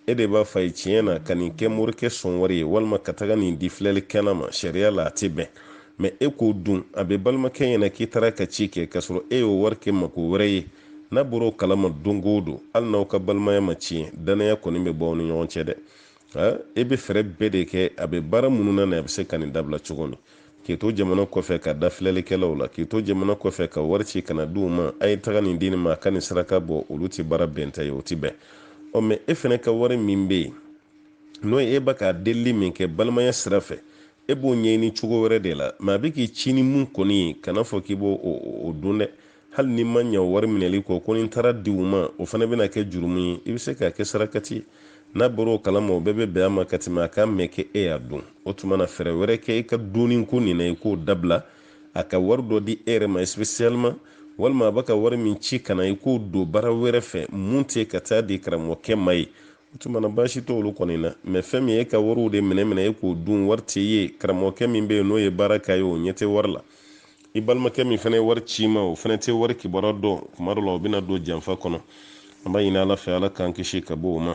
E de b'a f'a ye tiɲɛ na ka nin kɛ morikɛ sɔn wari ye walima ka taga nin di filɛlikɛla ma sariya la a tɛ bɛn mɛ e k'o dun a b'i balimakɛ ɲɛ na k'i taara a ka ci kɛ k'a sɔrɔ e y'o wari kɛ mako wɛrɛ ye n'a bɔra o kalama don o don hali n'aw ka balimaya ma tiɲɛ dannaya kɔni bɛ bɔ aw ni ɲɔgɔn cɛ dɛ e bɛ fɛɛrɛ bɛɛ de kɛ a bɛ baara minnu na nin a bɛ se ka nin dabila cogo min k'i to jamana kɔfɛ ka da filɛlikɛlaw la k'i to jamana kɔfɛ ka wari ci ka na di u ma a ye taga nin di nin ma a ka nin saraka bɔ olu tɛ baara bɛnta ye o tɛ bɛn ɔ mɛ e fana ka wari min bɛ yen n'o ye e bɛ ka delili min kɛ balimaya sira fɛ e b'o ɲɛɲini cogo wɛrɛ de la mɛ a bɛ k'i ci ni mun kɔni ye kan'a fɔ k'i b'o dun dɛ hali n'i ma ɲɛ wari minɛli kɔ ko ni n taara di u ma o fana bɛna kɛ jurumu ye i bɛ se k'a kɛ sarakati ye n'a bɔra o kalama o bɛɛ bɛ bɛn a ma ka tɛmɛ a k'a mɛn k'e y'a dun o tuma na fɛɛrɛ wɛrɛ kɛ i ka dunni ko nin na i k'o dabila a ka wari dɔ di e yɛrɛ ma spécialement walima a bɛ ka wari min ci ka na i k'o don baara wɛrɛ fɛ mun tɛ ka taa di karamɔgɔkɛ ma ye o tuma na baasi t'olu kɔni na mɛ fɛn min ye e ka wariw de minɛ minɛ e k'o dun wari tɛ ye karamɔgɔkɛ min bɛ yen n'o ye baara k'a ye o ɲɛ tɛ wari la i balimakɛ min fana ye wari c'i ma o fana tɛ wari kibaruya dɔn tuma dɔ la o bɛna don janfa kɔnɔ an b'a ɲini ala fɛ ala k'an kisi ka bɔ o ma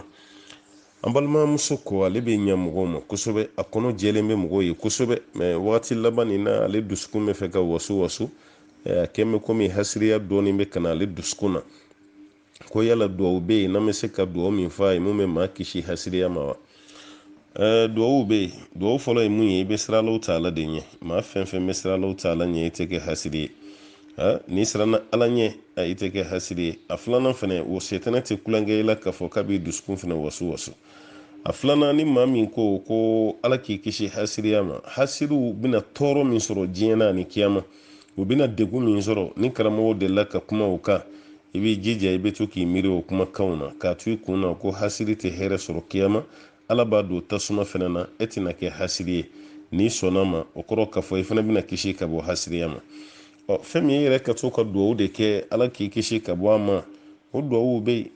an balimamuso ko ale bɛ ɲɛ mɔgɔw ma kosɛbɛ a kɔnɔ jɛlen bɛ mɔgɔw ye kosɛbɛ mɛ wagati laban nin na ale dusukun b'a fɛ ka wasuwasu a kɛn bɛ komi hasiriya dɔɔnin bɛ ka na ale dusukun na ko yala duwawu bɛ yen n'an bɛ se ka duwawu min fɔ a ye mun bɛ maa kisi hasiriya ma wa ɛɛ duwawu bɛ yen duwawu fɔlɔ ye mun ye i bɛ siran alahu taala de ɲɛ maa fɛn fɛn bɛ siran alahu taala ɲɛ i tɛ kɛ hasiri ye n'i siranna ala ɲɛ a i tɛ kɛ hasiri ye a filanan fɛnɛ o setanɛ tɛ tulonkɛ i la k'a fɔ k'a b'i dusukun fɛnɛ wasuwasu a filanan ni maa min ko ko ala k'i kisi hasiriya ma hasiriw bɛna tɔɔrɔ min sɔrɔ diɲɛ na ani kiyama u bɛna degun min sɔrɔ ni karamɔgɔ delila ka kuma o kan i b'i jija i bɛ to k'i miiri o kumakanw na k'a to i kun na ko hasiri tɛ hɛrɛ sɔrɔ kiyama ala b'a don tasuma fɛnɛ na e tɛna kɛ hasiri ye n'i sɔnna a ma o kɔrɔ k'a fɔ i fana bɛna kisi ka bɔ hasiriya ma ɔ fɛn min e yɛrɛ ka to ka duwawu de kɛ ala k'i kisi ka bɔ a ma o duwawu bɛ yen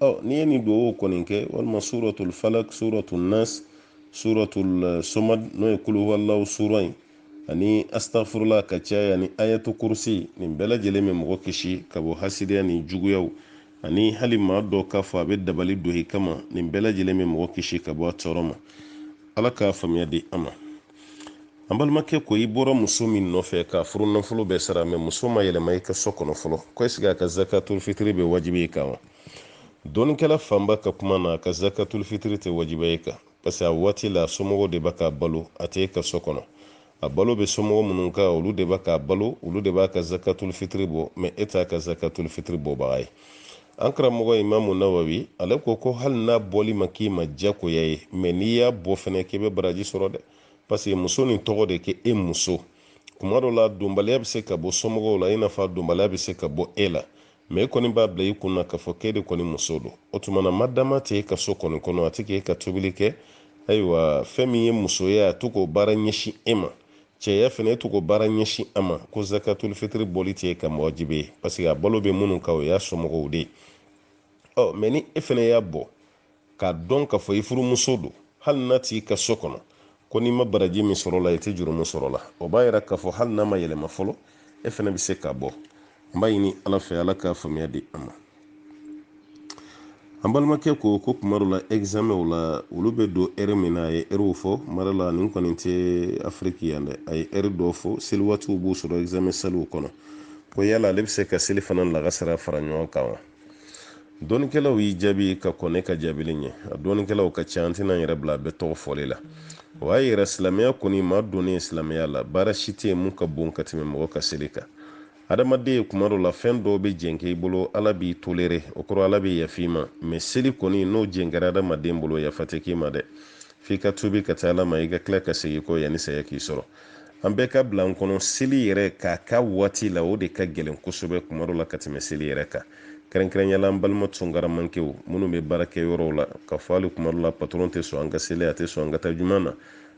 ɔ n'i ye nin duwawu kɔni kɛ walima suratul falak suratul nas suratul eh, somad n'o ye kuluhuwalahu sura ye ani astafurula ka caya ani ayatu kurusi nin bɛɛ lajɛlen bɛ mɔgɔ kisi ka bɔ hasiriya ni juguyaw ani hali maa dɔ k'a fɔ a bɛ dabali don i kama nin bɛɛ lajɛlen bɛ mɔgɔ kisi ka bɔ a tɔɔrɔ ma ala k'a faamuya di an ma an balimakɛ ko i bɔra muso min nɔfɛ k'a furunafolo bɛɛ sara mɛ muso ma yɛlɛma i ka so kɔnɔ fɔlɔ ko ɛsike a ka zakatul fitiri bɛ wajibi i kan wa dɔnikɛla fanba ka kuma na a ka zakatul fitiri tɛ wajibiya i kan parce que a waati la somɔgɔw de bɛ k'a balo a tɛ e ka so kɔnɔ a balo bɛ somɔgɔ minnu kan olu de bɛ k'a balo olu de b'a ka zakatul fitiri bɔ mɛ e t'a ka zakatul fitiri bɔbaga ye an karamɔgɔ imamu nawawi ale ko ko hali n'a bɔli ma k'i ma jagoya ye mɛ n'i y'a bɔ fɛnɛ k'i bɛ baraji sɔrɔ dɛ paseke muso nin tɔgɔ de k'e muso kuma dɔ la dɔnbaliya bɛ se ka bɔ somɔgɔw la i n'a fɔ a dɔnbaliya bɛ se ka bɔ e la mɛ e kɔni b'a bila i kun na k'a fɔ k'e de kɔni muso don o tuma na madama tɛ e ka so kɔni kɔnɔ a tɛ k'e ka tobili kɛ ayiwa fɛn min ye musoya a tɛ k'o baara ɲɛsin e ma cɛya fɛnɛ i tɛ k'o baara ɲɛsin a ma ko zakatul fitiri bɔli tɛ k'i ma wajibi ye paseke a balo bɛ minnu kan o y'a somɔgɔw de ye mɛ ni e fɛnɛ y'a bɔ k'a dɔn k'a fɔ i furumuso don hali n'a t'i ka so kɔnɔ ko n'i ma baraji min sɔrɔ a la i tɛ jurumu sɔrɔ a la o b'a yira k'a fɔ hali n'a ma yɛlɛma fɔlɔ e fɛnɛ bɛ se k'a bɔ n b'a ɲini ala fɛ ala k'a faamuya di an ma an balimakɛ ko ko kuma dɔ la ɛgizamɛnw la olu bɛ don ɛri min na a ye ɛriw fɔ mara la nin kɔni tɛ afiriki yan dɛ a ye ɛri dɔ fɔ seli waatiw b'u sɔrɔ ɛgizamɛn saliw kɔnɔ ko yala ale bɛ se ka selifana lagansara fara ɲɔgɔn kan wa dɔnikɛlaw y'i jaabi ka kɔn ne ka jaabili ɲɛ a dɔnikɛlaw ka ca an tɛna yɛrɛ bila bɛɛ tɔgɔ fɔli la o y'a yira silamɛya kɔni maa donnen silamɛya la baara si tɛ yen mun ka bon ka tɛmɛ mɔgɔ ka seli kan adamaden ye kuma dɔ la fɛn dɔw bɛ jɛnkɛ i bolo ala b'i tolere o kɔrɔ ala bɛ yafa i ma mɛ seli kɔni n'o jɛnkɛra adamaden bolo yafa tɛ k'i ma dɛ f'i ka tubi ka taa ala ma i ka tila ka segin kɔ yanni saya k'i sɔrɔ an bɛɛ k'a bila an kɔnɔ seli yɛrɛ k'a kɛ a waati la o de ka gɛlɛn kosɛbɛ kuma dɔ la ka tɛmɛ seli yɛrɛ kan kɛrɛnkɛrɛnya la an balima tungaramankew minnu bɛ baara kɛ yɔrɔw la k'a fɔ hali kuma dɔ la patɔrɔn tɛ sɔn an ka seli a tɛ sɔn an ka taa juma na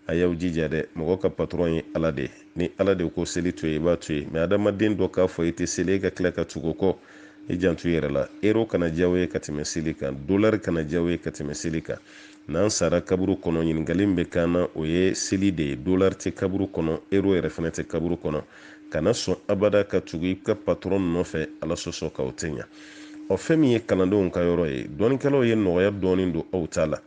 a y'aw jija dɛ mɔgɔ ka patɔrɔn ye ala de ni ala de ko seli to yen i b'a to yen mɛ adamaden dɔ k'a fɔ i tɛ seli e ka tila ka tugu a kɔ i janto i yɛrɛ la ero kana diy'aw ye ka tɛmɛ seli kan dolari kana diy'aw ye ka tɛmɛ seli kan N'an sara kaburu kɔnɔ, ɲininkali min bɛ k'an na, o ye seli de ye. Dolari tɛ kaburu kɔnɔ, euro yɛrɛ fana tɛ kaburu kɔnɔ. Kana sɔn abada ka tugu i ka patɔrɔn nɔfɛ Ala sɔsɔ kan, o tɛ ɲa. Ɔ, fɛn min ye kalandenw ka yɔrɔ ye, dɔnnikɛlaw ye nɔgɔya dɔɔni don aw ta la,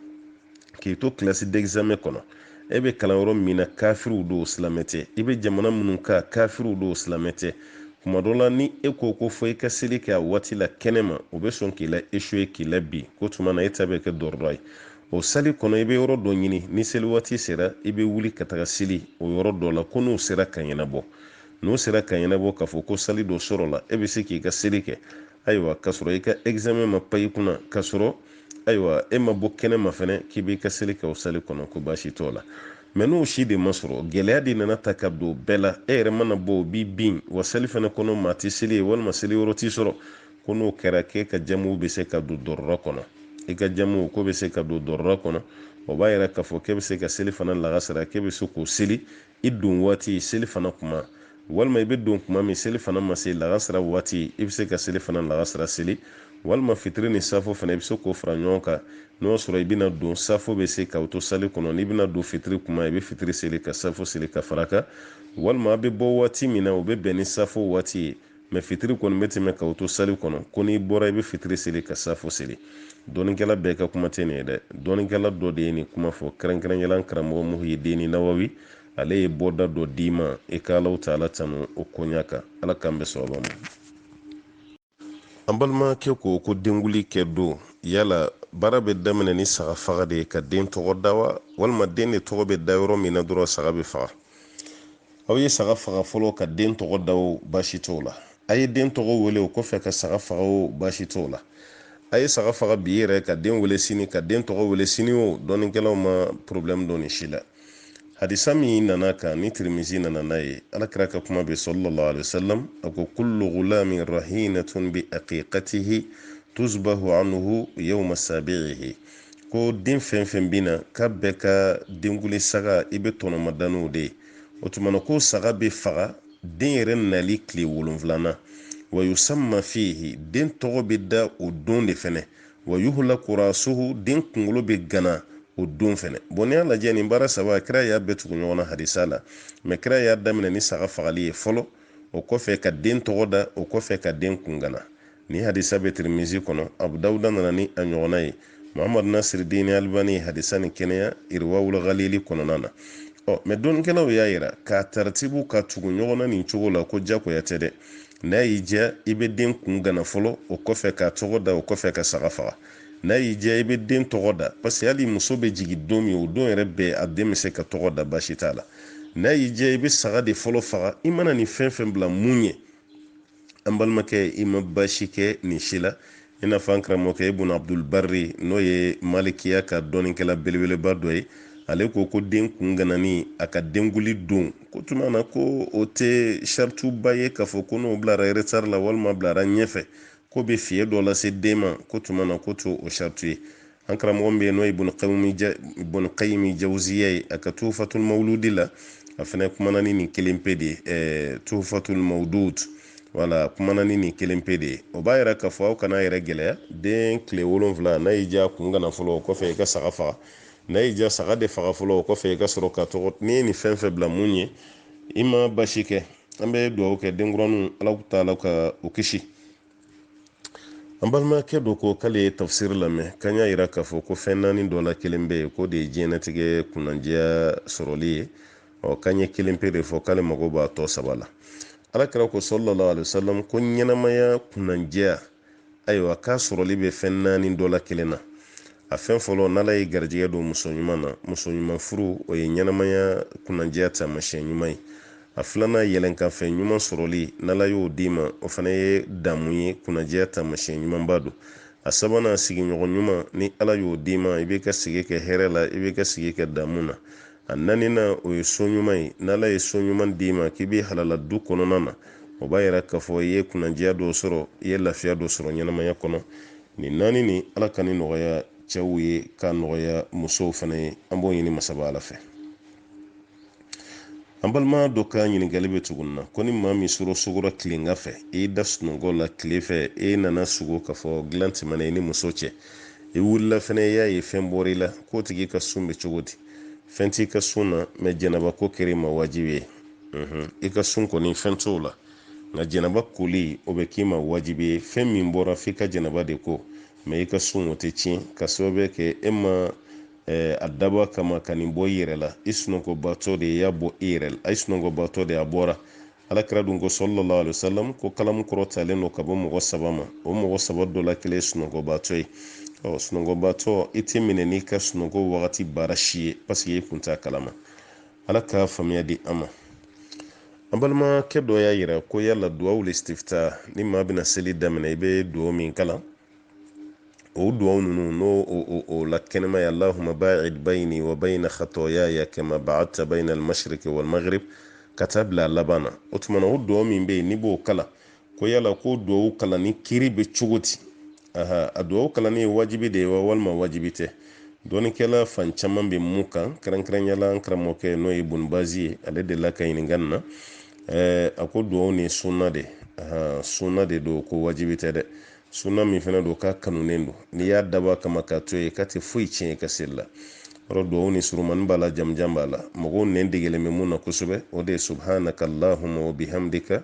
k'i to kilasi d'examen kɔnɔ. e bɛ kalan yɔrɔ min na kafiriw don silamɛ tɛ i bɛ jamana minnu kan kafiriw don silamɛ tɛ kuma dɔ la ni e ko ko fɔ i ka seli kɛ a waati la kɛnɛ ma o bɛ sɔn k'i la échouer k'i labin k'o tuma na e ta bɛ kɛ darura ye o sali kɔnɔ i bɛ yɔrɔ dɔ ɲini ni seli waati sera i bɛ wuli ka taga seli o yɔrɔ dɔ la ko n'o sera ka ɲɛnabɔ n'o sera ka ɲɛnabɔ k'a fɔ ko sali dɔ sɔrɔla e bɛ se k'i ka seli kɛ ayiwa k'a sɔrɔ i ka examen ma pan i kunna k'a sɔrɔ ayiwa e ma bɔ kɛnɛ ma fɛnɛ k'i b'i ka seli kɛ o sali kɔnɔ ko baasi t'o la mɛ n'o si de ma sɔrɔ gɛlɛya de nana ta ka don bɛɛ la e yɛrɛ mana bɔ o b'i bin wa sali fɛnɛ kɔnɔ maa tɛ seli yen walima seli yɔrɔ ti sɔrɔ ko n'o kɛra k'e ka jamu bɛ se ka don darura kɔnɔ i ka jamu k'o bɛ se ka don darura kɔnɔ o b'a yira k'a fɔ k'e bɛ se ka selifana lagasara k'e bɛ se k'o seli i don waati selifana kuma walima i bɛ don kuma min selifana ma se lagasira waati i bɛ se ka selifana lagasira seli walima fitiri ni safo fana i bɛ se k'o fara ɲɔgɔn kan n'o y'a sɔrɔ i bɛna don safo bɛ se k'aw to sali kɔnɔ n'i bɛna don fitiri kuma i bɛ fitiri seli ka safo seli ka fara kan walima a bɛ bɔ waati min na o bɛ bɛn ni safo waati ye mɛ fitiri kɔni bɛ tɛmɛ k'aw to sali kɔnɔ ko n'i bɔra i bɛ fitiri seli ka safo seli dɔnnikɛla bɛɛ ka kuma tɛ nin ye dɛ dɔnnikɛla dɔ de ye nin kuma fɔ kɛrɛnkɛrɛnya la karamɔgɔ muhiyidini nawawi ale ye bɔda dɔ d'i ma i ka alahu taala tanu o koɲa kan ala k'an bɛn sawaba ma an balimakɛ ko ko denguli kɛ don yala baara bɛ daminɛ ni saga faga de ye ka den tɔgɔ da wa walima den de tɔgɔ bɛ da yɔrɔ min na dɔrɔn saga bɛ faga aw ye saga faga fɔlɔ ka den tɔgɔ da o baasi t'o la a ye den tɔgɔ wele o kɔfɛ ka saga faga o baasi t'o la a ye saga faga bi yɛrɛ ka den wele sini ka den tɔgɔ wele sini o dɔnnikɛlaw ma problɛmu don nin si la hadisa min nan'a kan ni tirimizi nana n'a ye ala kira ka kuma bɛ sallallahu alaihi wasallam a ko kullu ghulamin rahinatun bi aqiqatihi tuzbahu anhu yawma sabi'ihi ko den fɛn fɛn bina k'a bɛɛ ka denkuli saga i bɛɛ tɔnɔmadaniw de ye o tuma na ko saga bɛ faga den yɛrɛ nali tile wolonfilana wa yusamma fihi den tɔgɔ bɛ da o don de fɛnɛ wa yuhlaku rasuhu den kunkolo bɛ gana o don fɛnɛ bon n'i y'a lajɛ nin baara saba kira y'a bɛɛ tugu ɲɔgɔn na hadisa la mais kira y'a daminɛ ni saga fagali ye fɔlɔ o kɔfɛ ka den tɔgɔ da o kɔfɛ ka den kun gana ni hadisa bɛ tirimizi kɔnɔ abu dawuda nana ni a ɲɔgɔnna ye muhamadu nasiri dini alibani ye hadisa ni kɛnɛya iriwawul galili kɔnɔna na ɔ mais dɔnnikɛlaw y'a yira k'a taritibu ka tugu ɲɔgɔn na nin cogo la ko jagoya tɛ dɛ n'a y'i diya i bɛ den kun gana fɔlɔ o kɔfɛ k'a tɔgɔ da o kɔfɛ ka saga faga n'a y'i diya i bɛ den tɔgɔ da parce que hali muso bɛ jigin don min o don yɛrɛ bɛɛ a den bɛ se ka tɔgɔ da baasi t'a la n'a y'i diya i bɛ saga de fɔlɔ faga i mana nin fɛn fɛn bila mun ɲɛ an balimakɛ i ma baasi kɛ nin si la i n'a fɔ an karamɔgɔkɛ ibun abdul barri n'o ye malikiya ka dɔnnikɛla belebeleba dɔ ye ale ko ko den kun ganani a ka denkuli don k'o tuma na ko o tɛ sarituba ye k'a fɔ ko n'o bilara retard la walima bilara ɲɛfɛ k'o bɛ fiyɛn dɔ lase den ma k'o tuma na k'o t'o saritu ye an karamɔgɔ bɛ yen n'o ye ibun kayimi jawuziya ye a ka tufatul mawuludi la a fana kumana ni nin kelen pe de ye ɛɛ tufatul mawudud wala kumana ni nin kelen pe de ye o b'a yira k'a fɔ aw kana yɛrɛ gɛlɛya den tile wolonfila n'a y'i diya kun gana fɔlɔ o kɔfɛ i ka saga faga n'a y'i diya saga de faga fɔlɔ o kɔfɛ i ka sɔrɔ ka tɔgɔ n'i ye nin fɛn fɛn bila mun ɲɛ i ma baasi kɛ an bɛ dugawu kɛ denkuraninw ala taala ka u kisi an balimakɛ dɔ ko k'ale ye tafsiri lamɛn k'an y'a yira k'a fɔ ko fɛn naani dɔ la kelen bɛ yen k'o de ye diɲɛnatigɛ kunnandiya sɔrɔli ye ɔ k'an ye kelen pe de fɔ k'ale mago b'a tɔ saba la ala kira ko salalahu alayihi wasalam ko ɲɛnamaya kunnandiya ayiwa k'a sɔrɔli bɛ fɛn naani dɔ la kelen na A fɛn fɔlɔ n'ala y'i garijɛgɛ don muso ɲuman na muso ɲuman furu o ye ɲɛnamaya kunnandiya taamasiyɛn ɲuman ye a filanan yɛlɛnkanfɛn ɲuman sɔrɔli n'ala y'o d'i ma o fana ye damu ye kunnandiya taamasiyɛn ɲumanba don a sabanan sigiɲɔgɔn ɲuman ni ala y'o d'i ma i bɛ ka sigi kɛ hɛrɛ la i bɛ ka sigi kɛ damu na a naaninan o ye so ɲuman ye n'ala ye so ɲuman d'i ma k'i b'i halala du kɔnɔna na o b'a yira k'a fɔ i ye kunnandiya dɔ sɔrɔ i ye lafiya dɔ sɔrɔ ɲɛnamaya kɔnɔ nin naani nin ala ka nin nɔgɔya cɛw ye k'a nɔgɔya musow fana ye an b'o ɲini masaba ala fɛ an balima dɔ ka ɲininkali bɛ tugun na ko ni maa min sugora tilegan fɛ i da sunɔgɔ la tile fɛ i nana sugo k'a fɔ dilan tɛmɛna i ni muso cɛ i wulila fana i y'a ye fɛn bɔra i la k'o tigi ka sun bɛ cogo di fɛn t'i ka sun na mais janaba ko kɛra i ma wajibi ye i ka sun kɔni fɛn t'o la nka janaba koli o bɛ k'i ma wajibi ye fɛn min bɔra f'i ka janaba de ko mɛ i ka sun o tɛ tiɲɛ ka sababu kɛ e ma eh, a daba kama ka nin bɔ i yɛrɛ la i sunɔgɔbatɔ de y'a bɔ i yɛrɛ la i sunɔgɔbatɔ de a bɔra alakira dun ko sallallahu alayhi wa sallam ko kalamu kɔrɔtalen don ka bɔ mɔgɔ saba ma o mɔgɔ saba dɔ la kelen ye sunɔgɔbatɔ ye ɔ sunɔgɔbatɔ i tɛ minɛ n'i ka sunɔgɔ wagati baara si ye paseke i kun t'a kalama ala ka faamuya di an ma an balimakɛ dɔ y'a yira ko yala duwawu listifta ni maa bɛna seli daminɛ i bɛ duwawu min kalan o duwawu ninnu n'o o la kɛnɛma ye allahuma baid bayini wa bayina khatayaya kama baadta bayina almashriki walmaghrib ka taa bila a laban na o tuma na o duwawu min bɛ yen n'i b'o kalan ko yala ko duwawu kalanni kiri bɛ cogo di aha a duwawu kalanni ye wajibi de ye wa walima wajibi tɛ dɔnnikɛla fan caman bɛ min kan kɛrɛnkɛrɛnya la an karamɔgɔkɛ n'o ye ibn bazi ye ale delila ka ɲininka nin na eh, a ko duwawu nin sunna de aha sunna de don ko wajibi tɛ dɛ sunna min fana don k'a kanunen don n'i y'a dabɔ kama k'a to yen k'a tɛ foyi tiɲɛ i ka seli la yɔrɔ duwawu nin surumani b'a la jamujan b'a la mɔgɔw nɛn degelen bɛ min na kosɛbɛ o de ye subhanaka allahuma wa bihamdika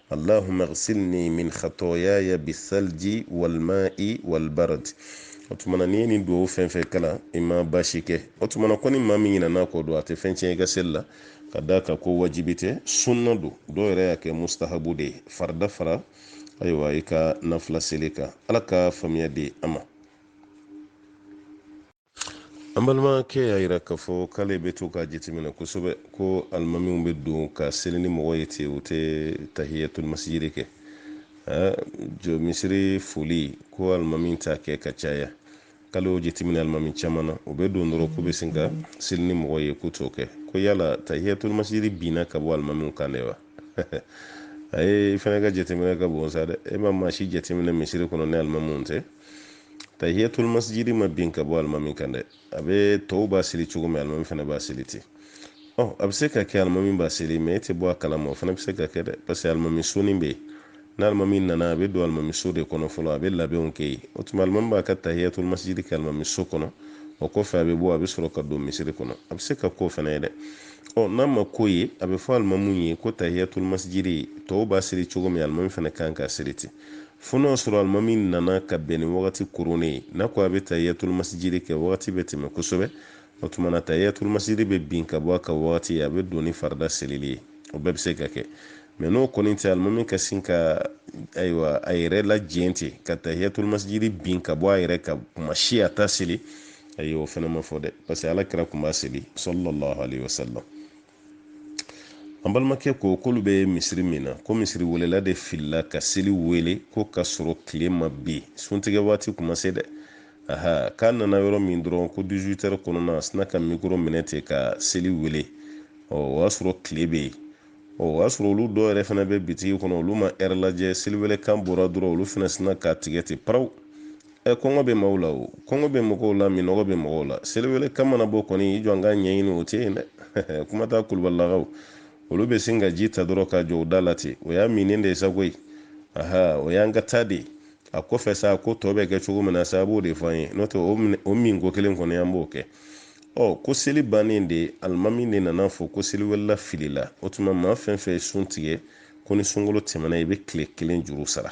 allahumma ghsilni min khatayaya bisalji walma'i walbarad o tuma na n'i ye nin duwawu fɛn fɛn kalan i ma baasi kɛ o tuma na ko ni maa min ɲinana a kɔ dun a tɛ fɛn tiɲɛ i ka seli la ka d'a kan ko wajibi tɛ sunna don dɔw yɛrɛ y'a kɛ mustahabu de ye farida fara ayiwa i ka nafila seli kan ala ka faamuya di an ma an balimakɛ y'a yira k'a fɔ k'ale bɛ to k'a jateminɛ kosɛbɛ ko alimamiw bɛ don ka seli ni mɔgɔw ye ten u tɛ tahiyatulmasijiri kɛ jɔ misiri foli ko alimami t'a kɛ ka caya k'ale y'o jateminɛ alimami caman na u bɛ don dɔrɔn k'u bɛ sin ka seli ni mɔgɔw ye k'u t'o kɛ ko yala tahiyatulmasijiri binna ka bɔ alimamiw kan de wa a e fana ka jateminɛ ka bon sa dɛ e ma maa si jateminɛ misiri kɔnɔ ni alimamiw tɛ tahiyatul masjidi ma bin ka bɔ alimami kan dɛ a bɛ tɔw b'a seli cogo min alimami fana b'a seli ten ɔ a bɛ se ka kɛ alimami b'a seli mɛ e tɛ bɔ a kalama o fana bɛ se ka kɛ dɛ parce que alimami soni bɛ yen n'alimami nana a bɛ don alimami so de kɔnɔ fɔlɔ a bɛ labɛnw kɛ yen o tuma alimami b'a ka tahiyatul masjidi kɛ alimami so kɔnɔ o kɔfɛ a bɛ bɔ a bɛ sɔrɔ ka don misiri kɔnɔ a bɛ se ka k'o fana ye dɛ ɔ n'a ma k'o ye a bɛ fɔ alimami ye ko tahiyatul masjidi tɔw b'a seli cogo min alimami fana ka kan k'a seli ten Fo n'o sɔrɔ alimami nana ka bɛn ni wagati koronnen ye n'a ko a bɛ tahiyyatulmasijiri kɛ wagati bɛ tɛmɛ kosɛbɛ o tuma na tahiyyatulmasijiri bɛ bin ka bɔ a kan wagati a bɛ don ni farida selili ye o bɛɛ bɛ se ka kɛ mɛ n'o kɔni tɛ alimami ka sin ka ayiwa a yɛrɛ lajɛn ten ka tahiyyatulmasijiri bin ka bɔ a yɛrɛ kan tuma si a t'a seli ayi o fana ma fɔ dɛ parce que ala kira tun b'a seli sallallahu alayhi wa sallam an balimakɛ ko k'olu bɛ misiri min na ko misiri welela de filila ka seli wele ko ka sɔrɔ tile ma bin suntigɛ waati kun ma se dɛ aha k'a nana yɔrɔ min dɔrɔn ko 18 heures kɔnɔna a sina ka mikoro minɛ ten ka seli wele ɔ o y'a sɔrɔ tile bɛ yen ɔ o y'a sɔrɔ olu dɔw yɛrɛ fana bɛ bitigi kɔnɔ olu ma ɛrɛ lajɛ seliwelekan bɔra dɔrɔn olu fana sina k'a tigɛ ten paraw ɛ kɔngɔ bɛ maaw la o kɔngɔ bɛ mɔgɔw la minnɔgɔ bɛ mɔgɔw la seliwele kan mana bɔ kɔni i jɔ an ka ɲɛɲini o tɛ yen dɛ kuma t'a kulubalilakaw olu bɛ sin ka ji ta dɔrɔn k'a jɔ u da la ten o y'a minnen de ye sa koyi aha o y'an ka taa de ye a kɔfɛ sa ko tɔ bɛ kɛ cogo min na sa a b'o de fɔ an ye n'o tɛ o min ko kelen kɔni an b'o kɛ ɔ ko seli bannen de alimami de nana fɔ ko seliwelela filila o tuma maa fɛn fɛn ye sun tigɛ ko ni sunkalo tɛmɛna i bɛ tile kelen juru sara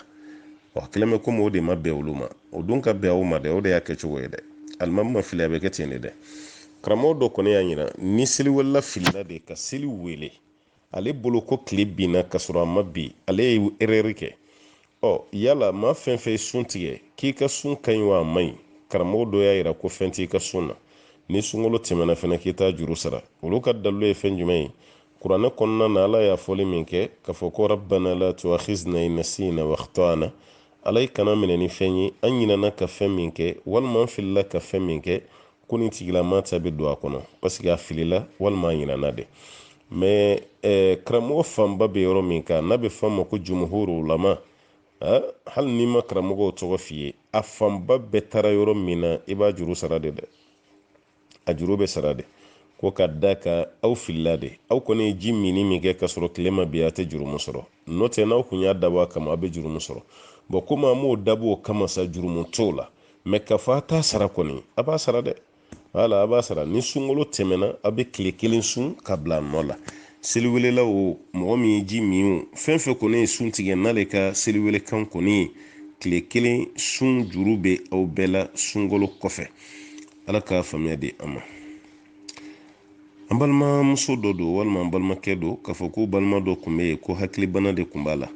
a kɛlen bɛ komi o de ma bɛn olu ma o dun ka bɛn o ma dɛ o de y'a kɛ cogo ye dɛ alimami ma fili a bɛ kɛ ten de dɛ karamɔgɔ dɔ kɔni y'a yira ni seliwelela filila de ka seli wele ale bolo ko tile binna ka sɔrɔ a ma bin ale ye erɛri kɛ ɔ yala maa fɛn fɛn ye sun tigɛ k'i ka sun ka ɲi wa a man ɲi karamɔgɔ dɔ y'a yira ko fɛn t'i ka sun na ni sunkalo tɛmɛna fana k'i t'a juru sara olu ka dalilu ye fɛn jumɛn ye kuranɛ kɔnɔna na ala y'a fɔli min kɛ k'a fɔ ko rabbana la tuakhizna in nasina wa akhtana ala i kan'an minɛ ni fɛn ye an ɲinana ka fɛn min kɛ walima an filila ka fɛn min kɛ ko nin tigilama ta bɛ don a kɔnɔ paseke a filila walima a ɲinana de mɛ eh, karamɔgɔ fanba bɛ yɔrɔ min kan n'a bɛ fɔ a ma ko jumuhuru ulama eh, hali n'i ma karamɔgɔw tɔgɔ f'i ye a fanba bɛɛ taara yɔrɔ min na i b'a juru sara de dɛ a juru bɛ sara de ko ka d'a kan aw filila de aw kɔni ye ji minni min kɛ ka sɔrɔ tile ma bin a tɛ jurumu sɔrɔ n'o tɛ n'aw kun y'a dabɔ a kama a bɛ jurumu sɔrɔ bɔn komi an m'o dabɔ o kama sa jurumu t'o la mɛ ka fɔ a t'a sara kɔni a b'a sara dɛ wala a b'a sara ni sunkalo tɛmɛna a bɛ tile kelen sun ka bila a nɔ la seliwelela o mɔgɔ min ye ji min o fɛn fɛn kɔni ye sun tigɛ n'ale ka seliwelekan kɔni ye tile kelen sun juru bɛ aw bɛɛ la sunkalo kɔfɛ ala ka faamuya di an ma an balimamuso dɔ don walima an balimakɛ don k'a fɔ k'u balima dɔ tun bɛ yen ko hakilibana de tun b'a la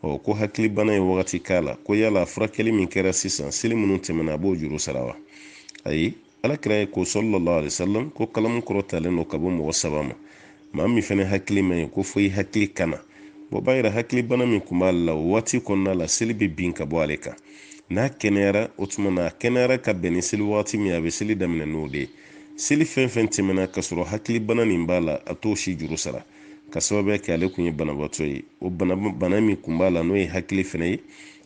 ɔ ko hakilibana ye wagati k'a la ko yala a furakɛli min kɛra sisan seli minnu tɛmɛna a b'o juru sara wa ayi ala kira ye ko sallallahu alaihi wasallam ko kalamu kɔrɔtalen don ka bɔ mɔgɔ saba ma maa min fana hakili man ɲi ko fo i hakili ka na o b'a yira hakili bana min tun b'ale la o waati kɔnɔna la seli bɛ bin ka bɔ ale kan n'a kɛnɛyara o tuma na a kɛnɛyara ka bɛn ni seli waati min a bɛ seli daminɛ n'o de ye seli fɛn fɛn tɛmɛna ka sɔrɔ hakili bana nin b'a la a t'o si juru sara ka sababuya kɛ ale tun ye banabaatɔ ye o bana bana min tun b'a la n'o ye hakili bana ye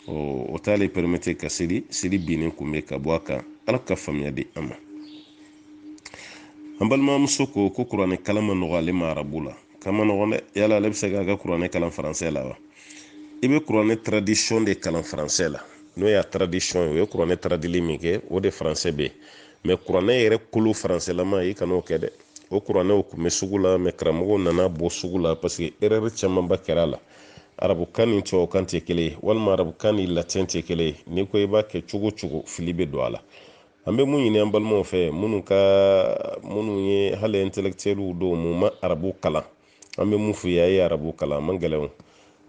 o t'ale pɛrɛmete ka seli seli binnen kun bɛ ka bɔ a kan ala ka faamuya di an ma an balimamuso ko ko kuranɛ kalan man nɔgɔ ale ma arabu la k'a man nɔgɔn dɛ yala ale bɛ se k'a ka kuranɛ kalan faransɛ la wa i bɛ kuranɛ traduction de kalan faransɛ la n'o y'a traduction ye o ye kuranɛ taradili min kɛ o de faransɛ bɛ yen mɛ kuranɛ yɛrɛ kolo faransɛlama i kan'o kɛ dɛ o kuranɛw tun bɛ sugu la mɛ karamɔgɔw nan'a bɔ sugu la parce que erreur camanba kɛra a la arabukan ni tubabukan tɛ kelen ye walima arabukan ni latin tɛ kelen ye n'i ko i b'a kɛ cogo o cogo fili bɛ don a la an bɛ mun ɲini an balimaw fɛ minnu ka minnu ye hali intellectuels dɔw mu ma arabu kalan an bɛ mun f'u ye a ye arabu kalan a man gɛlɛn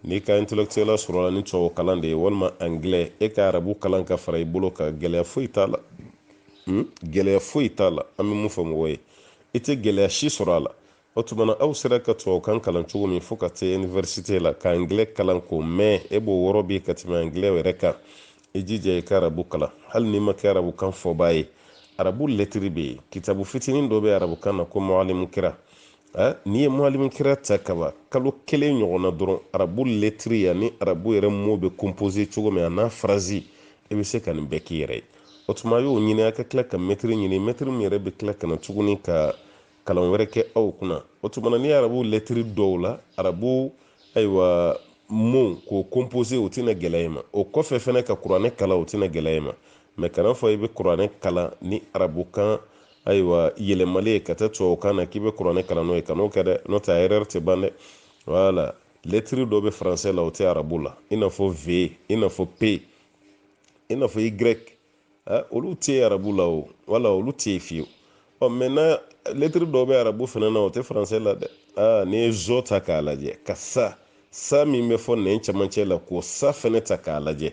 n'i ka intellectuel sɔrɔla ni tubabu kalan de ye walima anglais e ka arabu kalan ka fara i bolo kan gɛlɛya foyi t'a la hmm? gɛlɛya foyi t'a la an bɛ mun fɔ mɔgɔw ye i tɛ gɛlɛya si sɔrɔ a la o tuma na aw sera ka tubabukan kalan cogo min fo ka se iniversite la ka angilɛ kalan k'o mɛn e b'o wɔrɔ bi ka tɛmɛ angilɛ yɛrɛ kan i jija i ka arabu kalan hali n'i ma kɛ arabukan fɔbaa ye arabu lɛtiri bɛ yen kitabu fitinin dɔ bɛ arabukan na ko mualimu kira n'i ye mualimu kira ta kaba kalo kelen ɲɔgɔn na dɔrɔn arabu lɛtiri yanni arabu yɛrɛ mot bɛ composé cogo min a n'a phrase i bɛ se ka nin bɛɛ k'i yɛrɛ ye o tuma y'o ɲini a ka tila ka mɛtiri ɲini mɛtiri min yɛrɛ bɛ tila ka na tuguni ka kalan wɛrɛ kɛ aw kunna o tumana ni arabu lɛtiri dɔnna arabu ayiwa mot k'o composé o tɛna gɛlɛya i ma o kɔfɛ fɛnɛ ka kuranɛ kalan o tɛna gɛlɛya i ma mɛ kan'a fɔ i bɛ kuranɛ kalan ni arabukan ayiwa yɛlɛmali ye ka taa tubabukan na k'i bɛ kuranɛ kalan n'o ye kan'o kɛ dɛ n'o tɛ a erreur tɛ ban dɛ voilà lɛtiri dɔ bɛ faransɛ la o tɛ arabu la i n'a fɔ v i n'a fɔ p i n'a fɔ y olu tɛ arabu la o voilà olu tɛ yen fiyewu ɔ maintenant lɛtiri dɔw bɛ arabu fana na o tɛ faransɛ la dɛ aa n'i ye zɔ ta k'a lajɛ ka sa sa min bɛ fɔ nɛn camancɛ la k'o sa fɛnɛ ta k'a lajɛ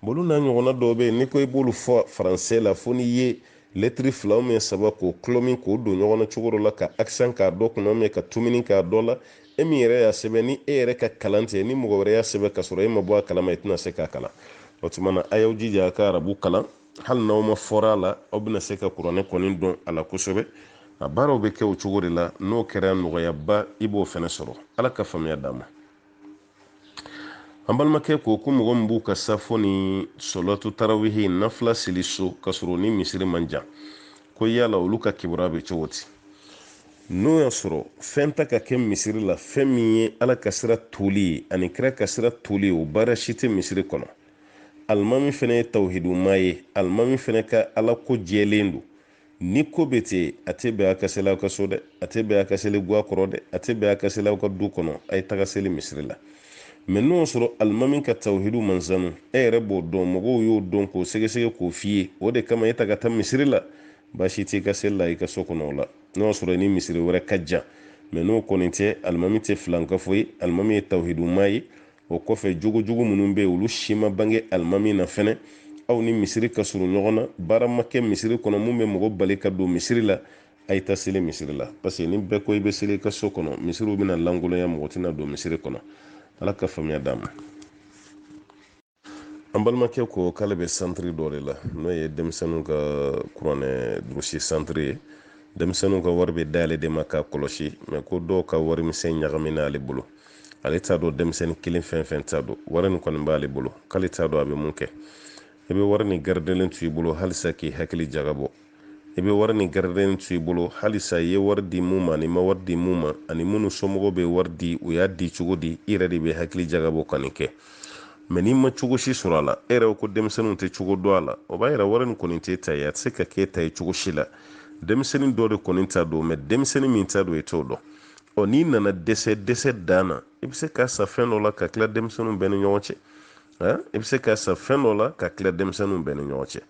olu n'a ɲɔgɔnna dɔw bɛ yen n'i ko i b'olu fɔ faransɛ la fo n'i ye lɛtiri fila min saba k'o kulɔmi k'o don ɲɔgɔn na cogo dɔ la ka accent k'a dɔ kunna mɛ ka tominin k'a dɔ la e min yɛrɛ y'a sɛbɛn ni e yɛrɛ ka kalan tɛ ni mɔgɔ wɛrɛ y'a sɛbɛn ka sɔrɔ e ma bɔ a kalama i tɛna se k'a kalan o tuma na a y'aw jija a ka arabu kalan hali n'aw ma fɔri a la aw bɛna se ka kuranɛ kɔni dɔn a la kosɛbɛ a baaraw bɛ kɛ o cogo de la n'o kɛra nɔgɔyaba i b'o fana sɔrɔ ala ka faamuya d'an ma an balimakɛ ko ko mɔgɔ min b'u ka safo ni salatu tarawihi nafila seli so ka sɔrɔ u ni misiri man jan ko yala olu ka kibaru bɛ cogo di n'o y'a sɔrɔ fɛn ta ka kɛ misiri la fɛn min ye ala ka sira toli ye ani kira ka sira toli ye o baara si tɛ misiri kɔnɔ alimami fɛnɛ ye tawhiduma ye alimami fɛnɛ ka ala ko jɛlen don ni ko bɛ ten a tɛ bɛn a ka seli aw ka so dɛ a tɛ bɛn a ka seli guwa kɔrɔ dɛ a tɛ bɛn a ka seli aw ka du kɔnɔ a ye taga seli misiri la mɛ n'o y'a sɔrɔ alimami ka tawhidu man sanu e yɛrɛ b'o dɔn mɔgɔw y'o dɔn k'o sɛgɛsɛgɛ k'o f'i ye o de kama e ta ka taa misiri la baasi t'i ka seli la i ka so kɔnɔ o la n'o y'a sɔrɔ ni misiri wɛrɛ ka jan mɛ n'o kɔni tɛ alimami tɛ filankafo ye alimami ye tawhiduma ye o kɔfɛ jogojugu minnu bɛ olu si ma bange alimami na fɛnɛ aw ni misiri ka surun ɲɔgɔn na baara ma kɛ misiri kɔnɔ mun bɛ mɔgɔ bali ka don misiri la a ye taa seli misiri la parce que ni bɛɛ ko i bɛ seli i ka so kɔnɔ misiriw bɛna lankolonya mɔgɔ tɛna don misiri kɔnɔ ala ka faamuya d'an ma An balimakɛ ko k'ale bɛ santiri dɔ de la n'o ye denmisɛnninw ka kuranɛ durusi santiri ye denmisɛnninw ka wari bɛ d'ale de ma k'a kɔlɔsi mɛ ko dɔw ka wari misɛn ɲagamina ale bolo ale t'a dɔn denmisɛnnin kelen fɛn fɛn t'a dɔn wari nin kɔni b'ale bolo k'ale t'a dɔn a bɛ mun kɛ i bɛ wari nin garidelen to i bolo halisa k'i hakili jagabɔ i bɛ wari nin garidelen to i bolo halisa i ye wari di mun ma an'i ma wari di mun ma ani minnu somɔgɔw bɛ wari di u y'a di cogo di i yɛrɛ de bɛ hakili jagabɔ ka nin kɛ mɛ n'i ma cogo si sɔrɔ a la e yɛrɛ ko denmisɛnninw tɛ cogo dɔn a la o b'a yira wari nin kɔni t'e ta ye a tɛ se ka k'e ta ye cogo si la denmisɛnnin dɔ de kɔni ta don mɛ denmisɛnnin min ta don i t'o dɔn ɔ n'i nana dɛsɛ dɛsɛ dan na i bɛ se k'a san fɛn dɔ la k'a tila denmisɛnninw bɛɛ ni ɲɔgɔn cɛ i bɛ se k'a san fɛn dɔ la k'a tila denmisɛnninw bɛɛ ni ɲɔgɔn cɛ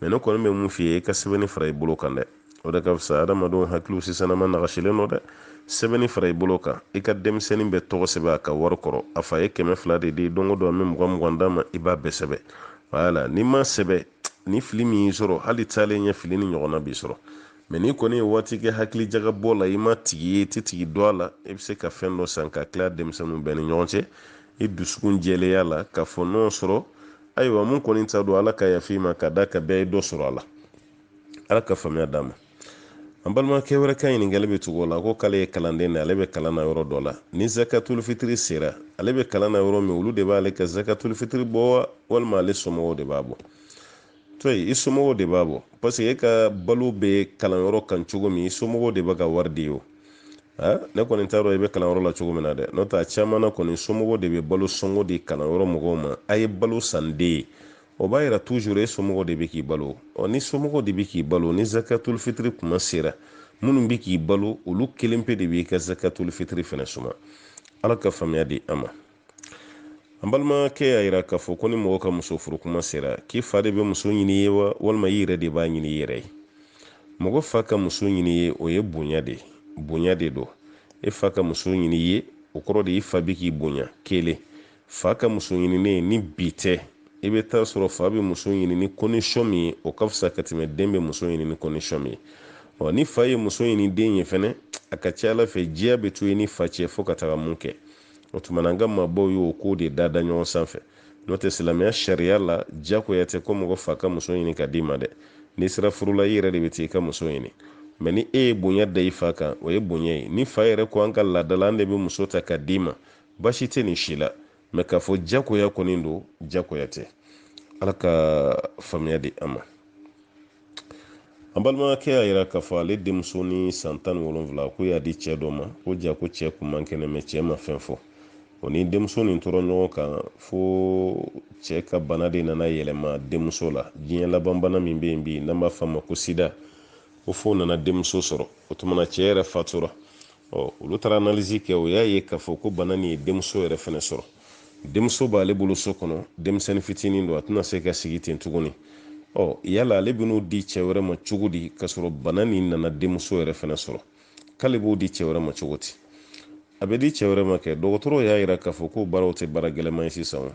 mɛ ne kɔni bɛ mun f'i ye i ka sɛbɛnni fara i bolo kan dɛ o de ka fisa adamadenw hakiliw sisanama nagasilen don dɛ sɛbɛnni fara i bolo kan i ka denmisɛnnin bɛɛ tɔgɔ sɛbɛn a ka wari kɔrɔ a fa ye kɛmɛ fila de di don o don an bɛ mugan mugan d'a ma i b'a bɛɛ sɛbɛn wala n'i m'a sɛbɛn ni fili min y'i sɔrɔ hali taalen ɲɛ fili nin ɲɔgɔnna b'i sɔrɔ mɛ n'i kɔni ye waati kɛ hakili jagabɔ la i ma tigi ye i tɛ tigi dɔn a la i bɛ se ka fɛn dɔ san k'a tila denmisɛnninw bɛɛ ni ɲɔgɔn cɛ i dusukun jɛlenya la k'a fɔ n'o sɔrɔ ayiwa mun kɔni ta don ala ka yafa i ma ka d'a kan bɛɛ ye dɔ sɔrɔ a la ala ka faamuya d'an ma an balimakɛ wɛrɛ ka ɲininkali bɛ tugu o la ko k'ale ye kalanden de ale bɛ kalan na yɔrɔ dɔ la ni zakatulu fitiri sera ale bɛ kalan na yɔrɔ min olu de b'ale ka zakatulu fitiri bɔ walima ale somɔgɔw de b'a bɔ to i somɔgɔw de b'a bɔ parce que e ka balo bɛ kalanyɔrɔ kan cogo min i somɔgɔw de bɛ ka wari di o ne kɔni t'a dɔn i bɛ kalanyɔrɔ la cogo min na dɛ n'o tɛ a caman na kɔni somɔgɔw de bɛ balo sɔngɔ di kalanyɔrɔ mɔgɔw ma a ye balo san den ye o b'a yira toujours e somɔgɔw de bɛ k'i balo ɔ n'i somɔgɔw de bɛ k'i balo ni zakatul fitiri kuma sera minnu bɛ k'i balo olu kelen pe de b'i ka zakatul fitiri fɛnɛ suma ala ka faamuya di an ma an balimakɛ y'a yira k'a fɔ ko ni mɔgɔ ka muso furu kuma sera k'i fa de bɛ muso ɲini i ye wa walima i yɛrɛ de b'a ɲini i yɛrɛ ye mɔgɔ fa ka muso ɲini i ye o ye bonya de bonya de don e fa ka muso ɲini i ye o kɔrɔ de i fa bɛ k'i bonya kelen fa ka muso ɲininen ni bi tɛ i bɛ t'a sɔrɔ fa bɛ muso ɲini ni condition min ye o ka fisa ka tɛmɛ den bɛ muso ɲini ni condition min ye ɔ ni fa ye muso ɲini den ye fɛnɛ a ka ca ala fɛ diya bɛ to i ni fa cɛ fo ka taga mun kɛ o tuma na an ka maabaw y'o ko de da da ɲɔgɔn sanfɛ n'o tɛ silamɛya sariya la jagoya tɛ ko mɔgɔ fa ka muso ɲini ka d'i ma dɛ n'i sera furu la i yɛrɛ de bɛ t'i ka muso ɲini mɛ ni e ye bonya da i fa kan o ye bonya ye ni fa yɛrɛ ko an ka laada la an de bɛ muso ta ka d'i ma baasi tɛ nin si la mɛ k'a fɔ jagoya kɔni don jagoya tɛ ala ka faamuya di an ma an balimakɛ y'a yira k'a fɔ ale denmuso ni san tan ni wolonwula ko y'a di cɛ dɔ ma ko jaa ko cɛ kun man kɛnɛ mɛ cɛ ma fɛn fɔ o ni denmuso nin tora ɲɔgɔn kan fo cɛ ka bana de nana yɛlɛma denmuso la diɲɛ laban bana min bɛ yen bi n'an b'a fɔ a ma ko sida ko fo nana denmuso sɔrɔ o tuma na cɛ yɛrɛ fatura ɔ olu taara analyse kɛ o y'a ye k'a fɔ ko bana nin ye denmuso yɛrɛ fɛnɛ sɔrɔ denmuso b'ale bolo so kɔnɔ denmisɛnnin fitinin don a tɛna se ka sigi ten tuguni ɔ yala ale bɛn'o di cɛ wɛrɛ ma cogo di k'a sɔrɔ bana nin nana denmuso yɛrɛ fɛnɛ sɔrɔ k'ale b'o di cɛ wɛrɛ ma cogo di a bɛ di cɛ wɛrɛ ma kɛ dɔgɔtɔrɔw y'a yira k'a fɔ ko baaraw tɛ baara gɛlɛman ye sisan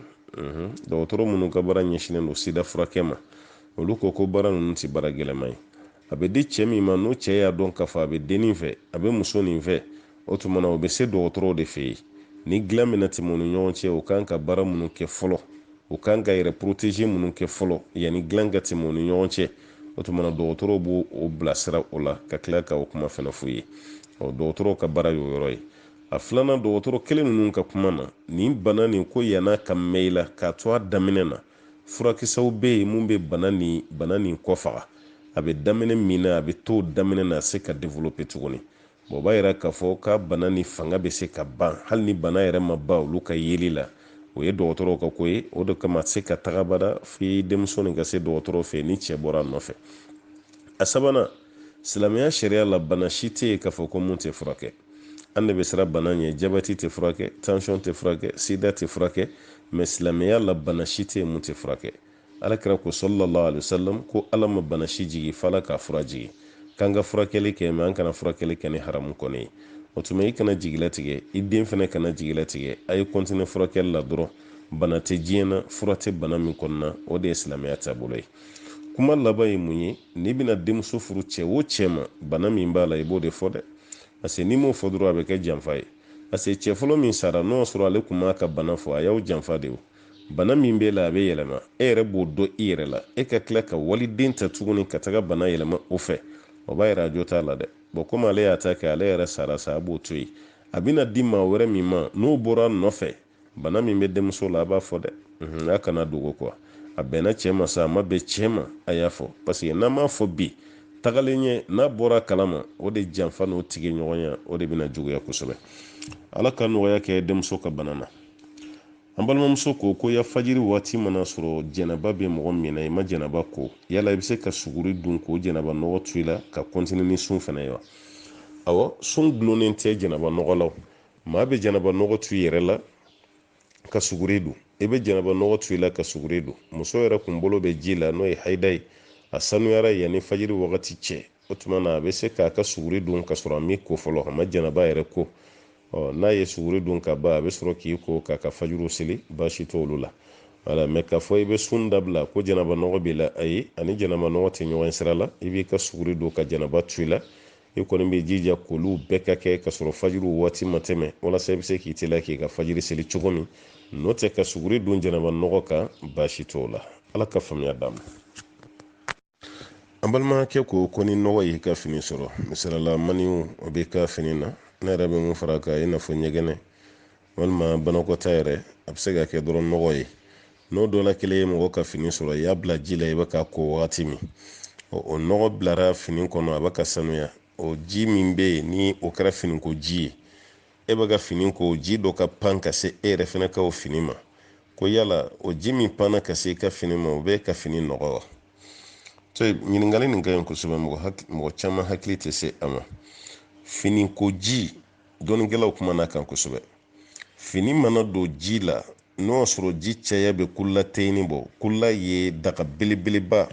dɔgɔtɔrɔ minnu ka baara ɲɛsinnen don sida furakɛ ma olu ko ko baara ninnu tɛ baara gɛlɛman ye a bɛ di cɛ min ma n'o cɛ y'a dɔn k'a fɔ a bɛ dennin fɛ a bɛ muso nin fɛ o tuma na o bɛ se dɔgɔtɔrɔw de fɛ yen ni dilan bɛna tɛmɛ u ni ɲɔgɔn cɛ u kan ka baara minnu kɛ fɔlɔ u kan ka yɛrɛ poroteze minnu kɛ fɔlɔ yanni dilan ka tɛmɛ u ni ɲɔgɔn cɛ o tuma na dɔgɔtɔrɔw b'o o bilasira o la ka tila ka o kuma fana f'u ye ɔ dɔgɔtɔrɔw ka baara y'o yɔrɔ ye a filanan dɔgɔtɔrɔ kelen ninnu ka kuma na nin bana nin ko yann'a ka mɛn i la k'a to a daminɛ na furakisɛw bɛ yen mun bɛ bana nin kɔ faga a bɛ daminɛ min na a bɛ to daminɛ na a se ka developpe tuguni O b'a yira k'a fɔ k'a bana nin fanga bɛ se ka ban hali ni bana yɛrɛ ma ban olu ka yeli la o ye dɔgɔtɔrɔw ka ko ye o de kama se ka taga abada f'i denmuso nin ka se dɔgɔtɔrɔ fɛ ni cɛ bɔra a nɔfɛ a sabanan silamɛya sariya la bana si tɛ yen k'a fɔ ko mun tɛ furakɛ an de bɛ siran bana ɲɛ jabɛti tɛ furakɛ tansiyɔn tɛ furakɛ sida tɛ furakɛ mɛ silamɛya la bana si tɛ yen mun tɛ furakɛ Alakira ko sallallahu alaihi wasallam ko Ala ma bana si jigi fo Ala k'a fura jigi, k'an ka furakɛli kɛ mais an kana furakɛli kɛ ni haramu kɔni ye. O tuma i kana jigilatigɛ, i den fana kana jigilatigɛ, a ye continuer furakɛli la dɔrɔn. Bana tɛ diɲɛ na, fura tɛ bana min kɔni na, o de ye silamɛya taabolo ye. Kuma laban ye mun ye? N'i bɛna denmuso furu cɛ o cɛ ma, bana min b'a la, i b'o de fɔ dɛ. Parce que n'i m'o fɔ dɔrɔn, a bɛ kɛ janfa ye. Parce que cɛ fɔlɔ min sara, n'o y'a sɔrɔ ale tun m'a ka bana fɔ, a y'aw janfa de o. bana min b'e la a bɛ yɛlɛma e yɛrɛ b'o dɔn i yɛrɛ la e ka tila ka waliden ta tuguni ka taga bana yɛlɛma o fɛ o b'a yira a jo t'a la dɛ bɔn komi ale y'a ta kɛ ale yɛrɛ sara sa a b'o to yen a bɛna di maa wɛrɛ min ma n'o bɔra nɔfɛ bana min bɛ denmuso la a b'a fɔ dɛ mhm, a kana dogo kuwa a bɛnna cɛ ma sa a ma bɛn cɛ ma a y'a fɔ paseke n'an m'a fɔ bi tagalen ɲɛ n'a bɔra kalama o de janfa n'o tigi ɲɔgɔnya o de bɛna juguya kosɛbɛ ala ka nɔgɔya kɛ denmuso ka bana na an balimamuso ko ko ya fajiri waati mana sɔrɔ janaba bɛ mɔgɔ min na i ma janaba ko yala i bɛ se ka suguri dun k'o janaba nɔgɔ to i la ka kɔntini ni sun fana ye wa awɔ sun dulonnen tɛ janaba nɔgɔ la maa bɛ janaba nɔgɔ to i yɛrɛ la ka suguri dun i bɛ janaba nɔgɔ to i la ka suguri dun muso yɛrɛ kun bolo bɛ ji la n'o ye hayida ye a sanuyara yanni fajiri wagati cɛ o tuma na a bɛ se k'a ka suguri dun ka sɔrɔ a m'i ko fɔlɔ a ma janaba yɛrɛ ko ɔ n'a ye suguri dun ka ban a bɛ sɔrɔ k'i ko k'a ka fajiri seli baasi t'olu la wala mɛ k'a fɔ i bɛ sun dabila ko janaba nɔgɔ b'i la ayi a ni janaba nɔgɔ tɛ ɲɔgɔn sira la i b'i ka suguri dun ka janaba to i la i kɔni bɛ jija k'olu bɛɛ ka kɛ ka sɔrɔ fajiri waati ma tɛmɛ walasa i bɛ se k'i teliya k'i ka fajiri seli cogo min n'o tɛ ka suguri dun janaba nɔgɔ kan baasi t'o la ala ka faamuya d'a ma an balimakɛ ko ko ni nɔgɔ y'i ka fini sɔrɔ misali la maniyu o b'i ka fini na ne yɛrɛ bɛ mun fara kan i n'a fɔ ɲɛgɛnɛ walima banakɔta yɛrɛ a bɛ se ka kɛ dɔrɔn nɔgɔ ye n'o dɔ la kelen ye mɔgɔ ka fini sɔrɔ i y'a bila ji la i bɛ k'a ko wagati min o nɔgɔ bilara fini kɔnɔ a bɛ ka sanuya o ji min bɛ yen ni o kɛra finiko ji ye e bɛ ka fini ko ji dɔ ka pan ka se e yɛrɛ fana ka o fini ma ko yala o ji min panna ka se i ka fini ma o b'i ka fini nɔgɔ wa to ɲininkali nin ka ɲi kosɛbɛ mɔgɔ caman hakili tɛ se a ma finiko ji dɔnnikɛlaw kumana a kan kosɛbɛ fini mana don ji la n'o y'a sɔrɔ ji caya bɛ kulateyini bɔ kula ye daga belebeleba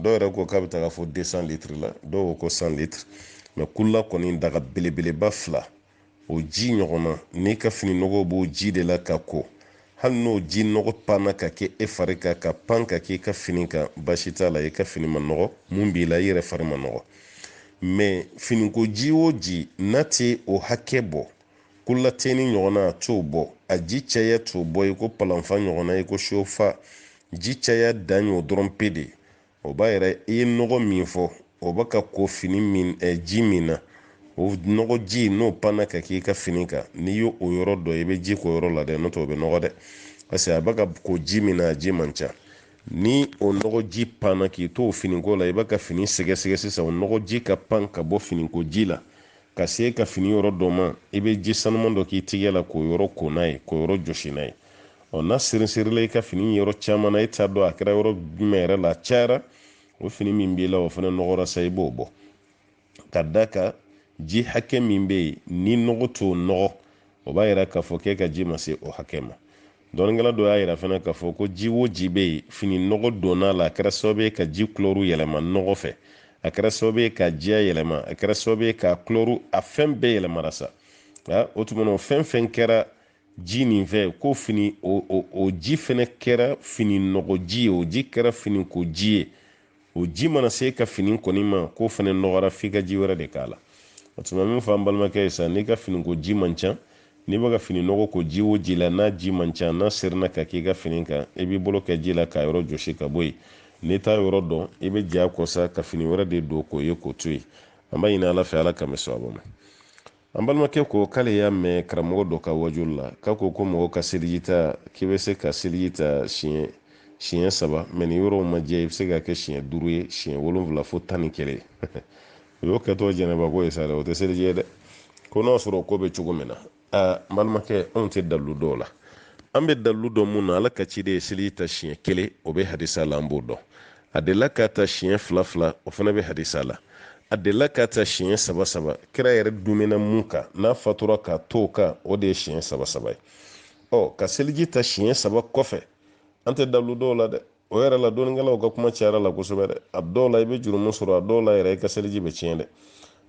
dɔw yɛrɛ ko k'a bɛ taa fo desan litiri la dɔw ko ko san litiri mɛ kula kɔni daga belebeleba fila o ji ɲɔgɔnna n'i ka fini nɔgɔ b'o ji de la k'a ko hali n'o ji nɔgɔ panna ka kɛ e fari kan ka pan ka k'i ka fini kan baasi t'a la i ka fini ma nɔgɔ min b'i la i yɛrɛ fari ma nɔgɔ mɛ finiko ji o ji n'a tɛ o hakɛ bɔ kulataini ɲɔgɔnna a t'o bɔ a ji caya t'o bɔ i ko palan fa ɲɔgɔnna i ko so fa ji caya dan y'o dɔrɔn pe de o b'a yɛrɛ i ye nɔgɔ min fɔ o bɛ ka ko fini min ɛ eh, ji min na o nɔgɔ ji n'o panna ka k'i ka fini kan n'i y'o o yɔrɔ dɔn i bɛ ji k'o yɔrɔ la dɛ n'o tɛ o bɛ nɔgɔ dɛ parce que a bɛ ka ko ji min na a ji man ca ni o nɔgɔji panna k'i to o finiko la i bɛ ka fini sɛgɛsɛgɛ sisan o nɔgɔji ka pan ka bɔ finiko ji la ka se ka fini yɔrɔ dɔ ma i bɛ ji sanuman dɔ k'i tigɛ la k'o yɔrɔ ko n'a ye k'o yɔrɔ jɔsi n'a ye ɔ n'a seriserila i ka fini yɔrɔ caman na e t'a dɔn a kɛra yɔrɔ jumɛn yɛrɛ la a cayara o fini min b'i la o fana nɔgɔra sa i b'o bɔ ka da kan ji hakɛ min bɛ yen ni nɔgɔ t'o nɔgɔ o b'a yira k'a fɔ k'e ka ji ma se o hakɛ ma dɔnnikɛla dɔ y'a yira fana k'a fɔ ko ji o ji bɛ yen fini nɔgɔ donna a la a kɛra sababu ye ka ji kulɔru yɛlɛma nɔgɔ fɛ a kɛra sababu ye k'a jiya yɛlɛma a kɛra sababu ye k'a kulɔru a fɛn bɛɛ yɛlɛmara sa nka o tuma na o fɛn fɛn kɛra ji nin fɛ ko fini o o o ji fana kɛra fini nɔgɔ ji ye o ji kɛra fini ko ji ye o ji mana se i ka fini kɔni ma k'o fana nɔgɔra f'i ka ji wɛrɛ de k'a la o tuma min fɔ an balimakɛ ye sa n'i ka finiko ji man ca n'i bɛ ka fini nɔgɔ ko ji o ji la n'a ji man ca n'a serina ka k'i ka fini kan i b'i bolo kɛ ji la k'a yɔrɔ jɔsi ka bɔ yen n'i t'a yɔrɔ dɔn i bɛ jagoya sa ka fini wɛrɛ de don k'o ye k'o to yen an b'a ɲini ala fɛ ala ka nimisa bɔ an ma an balimakɛ ko k'ale y'a mɛn karamɔgɔ dɔ ka waajuli la k'a ko ko mɔgɔ ka seliji ta k'i bɛ se ka seliji ta siɲɛ siɲɛ saba mais ni yɔrɔw ma jɛ i bɛ se ka kɛ siɲɛ duuru ye siɲɛ wolonfila fo tan ni kelen o y'o kɛtɔ janaba ko ye sa dɛ o tɛ seliji ye dɛ ko n'o sɔrɔ ko bɛ cogo min na aa n balimakɛ anw tɛ dalilu dɔn o la an bɛ dalilu dɔn mun na ala ka ciden ye seliji ta siɲɛ kelen o bɛ hadisa la an b'o dɔn a delila k'a ta siɲɛ fila fila o fana bɛ hadisa la a delila k'a ta siɲɛ saba saba kira yɛrɛ duumɛna mun kan n'a fatura k'a to o kan o de ye siɲɛ saba saba ye ɔ ka seliji ta siɲɛ saba kɔfɛ an tɛ dalilu dɔn o la dɛ o yɛrɛ la dɔnnikɛlaw ka kuma cayara la kosɛbɛ dɛ a dɔw la i bɛ jurumu sɔrɔ a dɔw la yɛrɛ i ka seliji bɛ tiɲɛ dɛ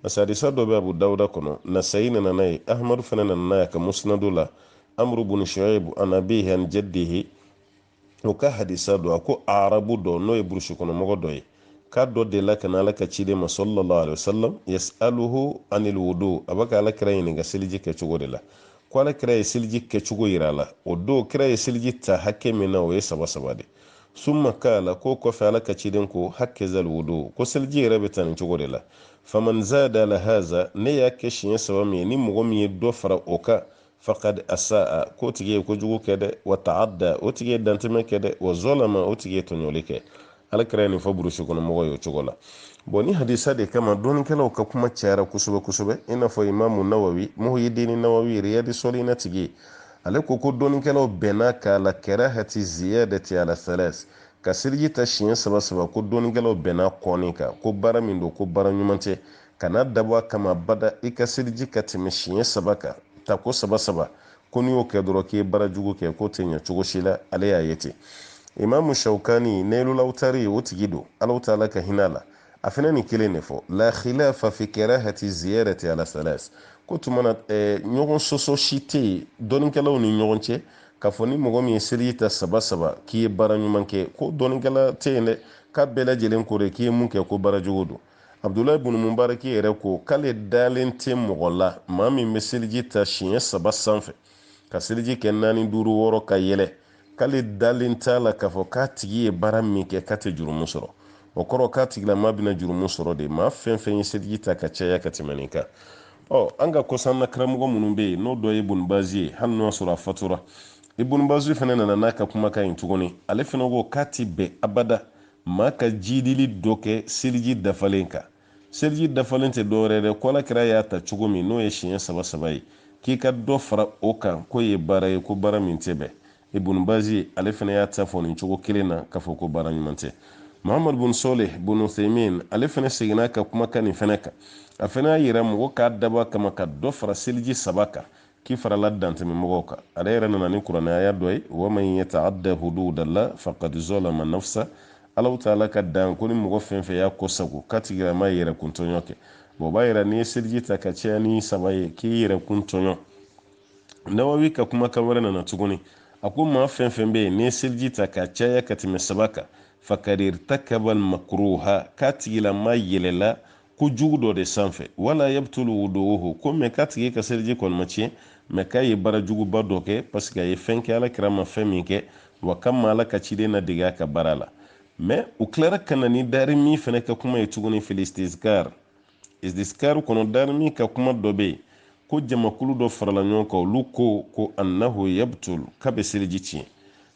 parce que hadisa dɔ bɛ abu dawuda kɔnɔ nasayi nana n'a ye ahamadu fana nana n'a ye a ka musinadu la amuru bunu shuaibu an abihi an jaddihi o ka hadisa don a ko arabu dɔ n'o ye burusi kɔnɔmɔgɔ dɔ ye k'a dɔ delila ka na ala ka ciden ma sallallahu alaihi wasallam yasaluhu anil wudu a bɛ ka ala kira ɲininka seliji kɛcogo de la ko ala kira ye seliji kɛcogo yira a la o don kira ye seliji ta hakɛ min na o ye saba saba de summa kala k'o kɔfɛ ala ka ciden ko hakazal wudu ko seliji yɛrɛ bɛ ta nin cogo de la faman zada ala haza ne y'a kɛ siɲɛ saba min ye ni mɔgɔ min ye dɔ fara o kan fakad asaa k'o tigi ye kojugu kɛ dɛ wa taadda o tigi ye dantɛmɛ kɛ dɛ wa zɔlama o tigi ye tɔɲɔli kɛ alakira ye nin fɔ burusi kɔnɔ mɔgɔ ye o cogo la bon nin hadisa de kama dɔnnikɛlaw ka kuma cayara kosɛbɛ kosɛbɛ i n'a fɔ imamu nawawi muhyidini nawawi riyadi sɔlina tigi ye ale ko ko dɔnnikɛlaw bɛnna k'ala karahati ziyadati ala thalasi ka seliji ta siɲɛ saba saba ko dɔnnikɛlaw bɛnna ko nin kan ko baara min don ko baara ɲuman tɛ kana dabɔ a kama abada i ka seliji ka tɛmɛ siɲɛ saba kan ta ko saba saba ko n'i y'o kɛ dɔrɔn k'i ye baara jugu kɛ k'o tɛ ɲɛ cogo si la ale y'a ye ten imamu shawkani nailul awtari o tigi don ala taala ka hinɛ a la a fana nin kelen de fɔ la khilafa fi karahati ziyadati ala salas k'o tuma na eh, ɲɔgɔn sɔsɔ si tɛ yen dɔnnikɛlaw ni ɲɔgɔn cɛ k'a fɔ ni mɔgɔ min ye seliji ta saba saba k'i ye baara ɲuman kɛ ko dɔnnikɛla tɛ yen dɛ k'a bɛɛ lajɛlen ko de k'i ye mun kɛ ko baara jugu don abudulayi bunu mubaraki yɛrɛ ko k'ale dalen tɛ mɔgɔ la maa min bɛ seliji ta siɲɛ saba sanfɛ ka seliji kɛ naani duuru wɔɔrɔ ka yɛlɛ k'ale dalen t'a la k'a fɔ k'a tigi ye baara min kɛ k'a tɛ jurumu sɔrɔ o kɔrɔ k'a tigilama bɛna jurumu sɔrɔ de maa fɛn fɛn ye seliji ta ka caya ka tɛmɛ nin kan ɔ an ka kɔsanna karamɔgɔ minnu bɛ yen n'o dɔ ye ibun bazi ye hali n'o y'a sɔrɔ a fatura ibun bazi fana nana n'a ka kumakan in tuguni ale fana ko k'a ti bɛn abada maa ka jiidili dɔ kɛ seliji dafalen kan seliji dafalen tɛ dɔwɛrɛ dɛ ko alakira y'a ta cogo min n'o ye siɲɛ saba saba ye k'i ka dɔ fara o kan k'o ye baara ye ko baara min tɛ bɛn ibun bazi ale fana y'a ta fɔ nin cogo kelen na k'a fɔ ko baara ɲuman tɛ muhammad bun soleh bun uthaymin ale fana seginna ka kumakan nin fana kan a fana y'a yira mɔgɔ k'a dabɔ a kama ka dɔ fara seliji saba kan k'i farala dantɛmɛmɔgɔw kan ale yɛrɛ nana ni kuranɛ aya dɔ ye waman yataadda hududalla fakad zolama nafsa ala taala ka dan ko ni mɔgɔ fɛn fɛn y'a kɔ sago k'a tigilama ye yɛrɛkun tɔɲɔ kɛ bon o b'a yira n'i ye seliji ta ka caya ni saba ye k'i yɛrɛkun tɔɲɔ nawawi ka kumakan wɛrɛ nana tuguni a ko maa fɛn fɛn bɛ yen n'i ye seliji ta ka caya ka tɛmɛ saba kan fakad irtakabal makruha k'a tigilama yɛlɛla kojugu dɔ de sanfɛ wala yabtulu wudu'uhu ko mɛ k'a tigi ka seliji kɔni ma tiɲɛ mɛ k'a ye baara juguba dɔ kɛ parce que a ye fɛn kɛ ala kira ma fɛn min kɛ wa k'a ma ala ka ciden ladege a ka baara la mɛ u tilara ka na ni darimi fana ka kuma ye tuguni fil istizkar istizkar kɔnɔ darimi ka kuma dɔ bɛ yen ko jamakulu dɔ farala ɲɔgɔn kan olu ko ko annahu yabtul k'a bɛ seliji tiɲɛ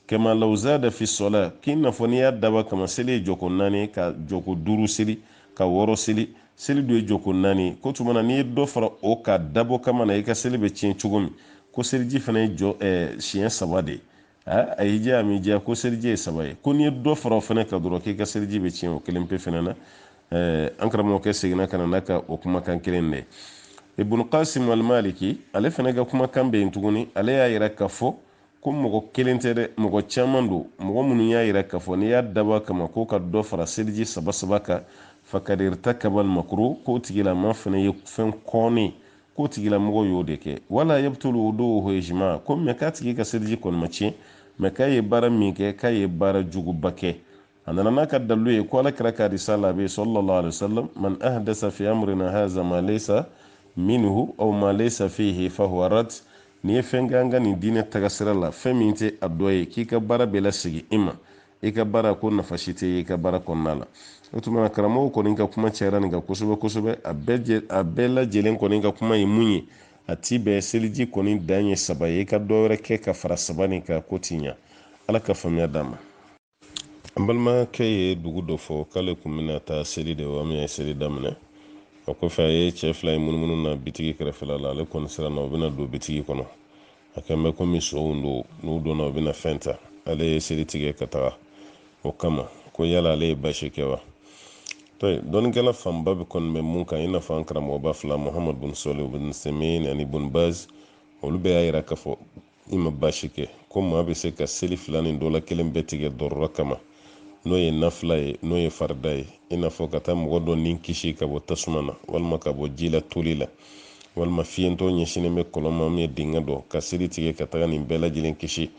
kama law zada fi sɔla k'i n'a fɔ n'i y'a dabɔ kama seli ye jɔko naani ka jɔko duuru seli ka wɔɔrɔ seli seli dun ye jɔko naani ko tuma na n'i ye dɔ fara o kan dabɔ kama na i ka seli bɛ tiɲɛ cogo min ko seliji fana ye jɔ eh, siɲɛ saba de ye a y'i diya a m'i diya ko seliji ye saba ye ko n'i ye dɔ fara o fana kan dɔrɔn k'i ka seliji bɛ tiɲɛ o kelen pe fana na eh, an karamɔgɔkɛ seginna ka na n'a ka o kumakan kelen de ibn qasim al-maliki ale fana ka kumakan bɛ yen tuguni ale y'a yira k'a fɔ ko mɔgɔ kelen tɛ dɛ mɔgɔ caman don mɔgɔ minnu y'a yira k'a fɔ n'i y'a dabɔ kama ko ka dɔ fara seliji saba saba kan faqad irtakaba al-makruh k'o tigilama fana ye fɛn kɔnnen k'o tigilamɔgɔ y'o de kɛ wala yabtulu wudu'uhu ijma ko mɛ k'a tigi ka seliji kɔni ma tiɲɛ mɛ k'a ye baara min kɛ k'a ye baara juguba kɛ a nana n'a ka dalilu ye ko ala kira ka risala bɛ sallallahu alaihi wasallam man ahdasa fi amrina haza ma laysa minhu aw ma laysa fihi fahuwa rad n'i ye fɛn kɛ an ka nin diinɛ tagasira la fɛn min tɛ a dɔ ye k'i ka baara bɛ lasegin i ma i ka baara ko nafa si tɛ ye i ka baara kɔnɔna la o tuma na karamɔgɔ kɔni ka kuma cayara nin kan kosɛbɛ kosɛbɛ a bɛɛ a bɛɛ lajɛlen kɔni ka kuma ye mun ye a ti bɛn seliji kɔni dan ye saba ye i ka dɔ wɛrɛ kɛ ka fara saba nin kan k'o ti ɲa ala ka faamuya d'an ma an balimakɛ ye dugu dɔ fɔ k'ale kun bɛna taa seli de wa min ye seli daminɛ o kɔfɛ a ye cɛ fila ye munumunu na bitigi kɛrɛfɛla la ale kɔni siranna u bɛna don bitigi kɔnɔ a kɛn bɛ komi sonw don n'u donna u bɛna fɛn ta ale ye seli tigɛ ka taga o kama ko yala ale ye baasi kɛ wa dɔnnikɛla fanba bɛɛ kɔni bɛ mun kan i n'a fɔ an karamɔgɔba fila muhamadu bun sɔlih bun usemin ani bun baz olu bɛɛ y'a yira k'a fɔ i ma baasi kɛ ko maa bɛ se ka seli fila nin dɔ la kelen bɛɛ tigɛ darura kama n'o ye nafila ye n'o ye farida ye i n'a fɔ ka taa mɔgɔ dɔ ni kisi ka bɔ tasuma na walima ka bɔ ji la toli la walima fiyentɔ ɲɛsinnen bɛ kɔlɔn ma min ye dingɛ dɔ ka seli tigɛ ka taga nin bɛɛ lajɛlen kisi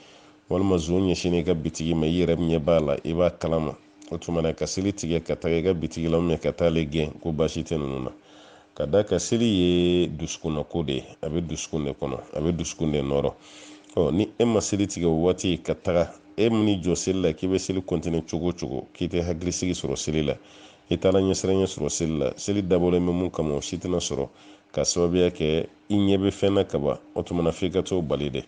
walima zon ɲɛsinnen i ka bitigi ma i yɛrɛ ɲɛ b'a la i b'a kalama o tuma na ka seli tigɛ ka taga i ka bitigi la ka taa ale gɛn ko baasi tɛ ninnu na ka d'a kan seli ye dusukunna ko de ye a bɛ dusukun de kɔnɔ a bɛ dusukun de nɔrɔ ɔ ni e ma seli tigɛ o waati ka taga e min jɔ seli la k'i bɛ seli kɔntine cogo cogo k'i tɛ hakilisigi sɔrɔ seli la i t'ala ɲɛsiranɲɛ sɔrɔ seli la seli dabɔlen bɛ min kama o si tɛna sɔrɔ ka sababuya kɛ i ɲɛ bɛ fɛn na kaban o tuma na f'i ka t'o bali dɛ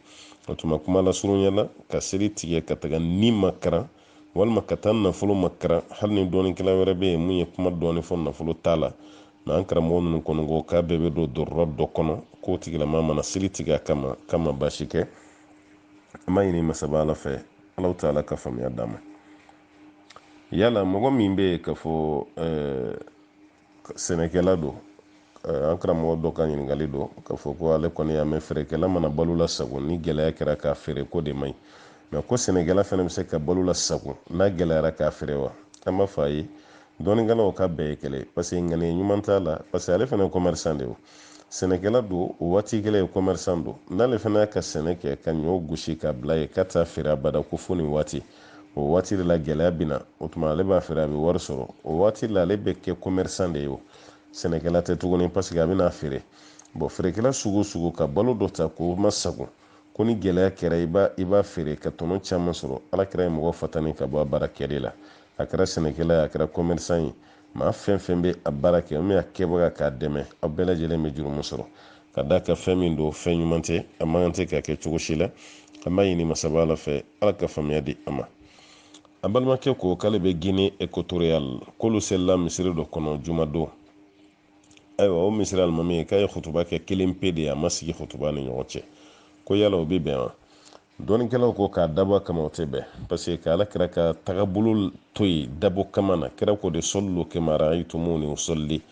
o tuma kuma lasurunya la ka seli tigɛ ka taga ni makaran walima ka taa nafolo makaran hali ni dɔnnikɛla wɛrɛ bɛ yen min ye kuma dɔɔni fɔ nafolo ta la mɛ an karamɔgɔ ninnu kɔni ko k'a bɛɛ bɛ don darura dɔ kɔnɔ k'o tigilama mana seli tigɛ a kama k'a ma baasi kɛ an b'a ɲini masaba ala fɛ ala ta'ala ka faamuya d'an ma yala mɔgɔ min bɛ yen k'a fɔ ɛɛ sɛnɛkɛla don an karamɔgɔ dɔ ka ɲininkali don k'a fɔ ko ale kɔni y'a mɛn feerekɛla mana balo lasago ni gɛlɛya kɛra k'a feere k'o de man ɲi mɛ ko sɛnɛkɛla fana bɛ se ka balo lasago n'a gɛlɛyara k'a feere wa an b'a fɔ a ye dɔnnikɛlaw k'a bɛɛ ye kelen parce que ŋaniya ɲuman t'a la parce que ale fana ye commerçant de ye sɛnɛkɛla don o waati kelen ye commerçant don n'ale fana y'a ka sɛnɛ kɛ ka ɲɔ gosi k'a bila yen k'a t'a feere abada ko fo nin waati o waati de la gɛlɛya bɛ na o tuma ale b'a feere a bɛ wari sɔrɔ o waati la ale bɛ kɛ commerçant de ye o sɛnɛkɛla tɛ tuguni parce que a bɛna feere bon feerekɛla sugu o sugu ka balo dɔ ta k'o lasago ko ni gɛlɛya kɛra i b'a i b'a feere ka tɔnɔ caman sɔrɔ ala kira ye mɔgɔ fatani ka bɔ a baara kɛli la a kɛra sɛnɛkɛla ye a kɛra commerçant ye maa fɛn fɛn bɛ a baara kɛ min a kɛbaga k'a dɛmɛ aw bɛɛ lajɛlen bɛ jurumu sɔrɔ ka d'a kan fɛn min don fɛn ɲuman tɛ a man kan tɛ ka kɛ cogo si la an b'a ɲini masaba ala fɛ ala ka faamuya di an ma an balimakɛ ko k'ale bɛ Guinée équatoriale k'olu selila misiri dɔ kɔnɔ jumadon ayiwa o misiri alimami ye k'a ye kutuba kɛ kelen pe de ye a ma sigi kutuba ni ɲɔgɔn cɛ ko yala o bɛ bɛn wa dɔnnikɛlaw ko k'a dabɔ a kama o tɛ bɛn parce que ala kira ka tagabolo to yen dabɔ kama na kira ko de sallu kama ra'aytumuni usalli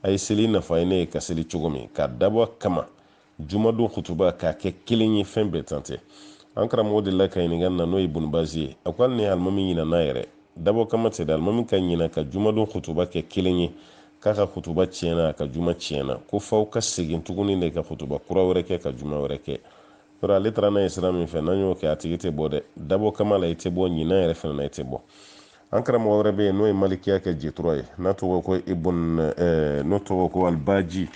a ye seli n'a fɔ a ye ne ye ka seli cogo min k'a dabɔ a kama jumadon kutuba k'a kɛ kelen ye fɛn bɛnta tɛ an karamɔgɔ de la ka ɲininka na n'o ye Ibn Baz ye a ko hali ni alimami ɲinana yɛrɛ dabɔ kama tɛ dɛ alimami ka ɲina ka jumadon kutuba kɛ kelen ye k'a ka kutuba tiɲɛna a ka juma tiɲɛna ko f'aw ka segin tuguni de ka kutuba kura wɛrɛ kɛ ka juma wɛrɛ kɛ yɔrɔ ale taara n'a ye sira min fɛ n'an y'o kɛ a tigi tɛ bɔ dɛ dabɔ kama la i tɛ bɔ ɲina yɛrɛ fana na i tɛ bɔ an karamɔgɔ wɛrɛ bɛ yen n'o ye malikiya kɛ jetura ye n'a tɔgɔ ko ibn n'o tɔgɔ ko alibaji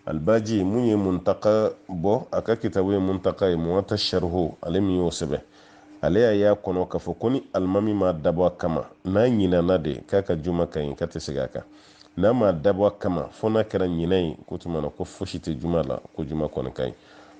alibaji min ye muntaka bɔ a ka kitabu ye muntaka ye muwata sharhu ale min y'o sɛbɛn ale y'a y'a kɔnɔ k'a fɔ ko ni alimami ma dabɔ a kama n'a ɲinana de k'a ka juma ka ɲi k'a tɛ segin a kan n'a ma dabɔ a kama fo n'a kɛra ɲinɛ ye k'o tuma na ko fosi tɛ juma la ko juma kɔni ka ɲi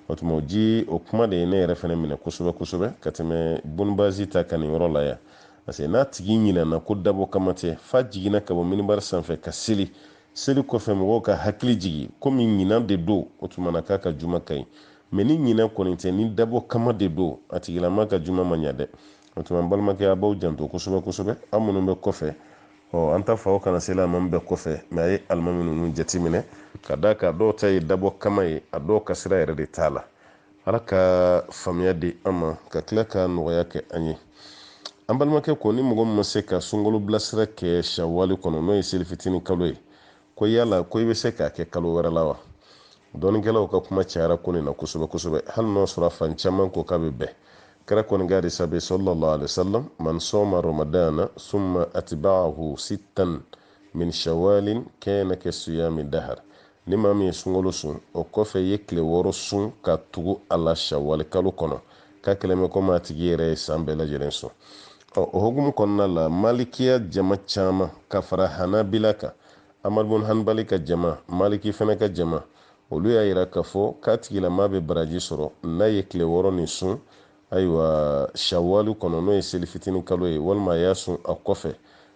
o tuma o ji o kuma de ye ne yɛrɛ fana minɛ kosɛbɛ kosɛbɛ ka tɛmɛ Ibn Baz ta kan nin yɔrɔ la yan parce que n'a tigi ɲinɛna ko dabɔ kama tɛ f'a jiginna ka bɔ minibari sanfɛ ka seli seli kɔfɛ mɔgɔw k'a hakili jigi komi ɲina de don o tuma na k'a ka juma ka ɲi mɛ ni ɲinɛ kɔni tɛ ni dabɔ kama de don a tigilama ka juma ma ɲa dɛ o tuma n balimakɛ a b'aw janto kosɛbɛ kosɛbɛ aw minnu bɛ kɔfɛ ɔ an t'a fɔ aw kana seli alimami bɛɛ kɔfɛ mɛ a ye alimami ninnu jateminɛ ka d'a kan dɔw ta ye dabɔ kama ye a dɔw ka sira yɛrɛ de t'a la ala ka faamuya di an ma ka tila ka nɔgɔya kɛ an ye an balimakɛ ko ni mɔgɔ min ma se ka sunkalo bilasira kɛ shawali kɔnɔ n'o ye selifitini kalo ye ko yala ko i bɛ se k'a kɛ kalo wɛrɛ la wa dɔnnikɛlaw ka kuma cayara ko nin na kosɛbɛ kosɛbɛ hali n'o sɔrɔ fan caman ko k'a bɛ bɛn kira kɔni ka hadisa bɛ sallallahu alaihi wasallam man sama ramadana summa atba'ahu sittan min shawalin kana ka siyami dahar ni maa min ye sunkalo sun o kɔfɛ ye tile wɔɔrɔ sun ka tugu a la shawali kalo kɔnɔ k'a kɛlen bɛ komi a tigi yɛrɛ ye san bɛɛ lajɛlen sun o hukumu kɔnɔna la malikiya jama caman ka fara hanabila kan amadu bun hanbali ka jama maliki fɛnɛ ka jama olu y'a yira k'a fɔ k'a tigilamaa bɛ baraji sɔrɔ n'a ye tile wɔɔrɔ nin sun ayiwa shawali kɔnɔ n'o ye selifitini kalo ye walima a y'a sun a kɔfɛ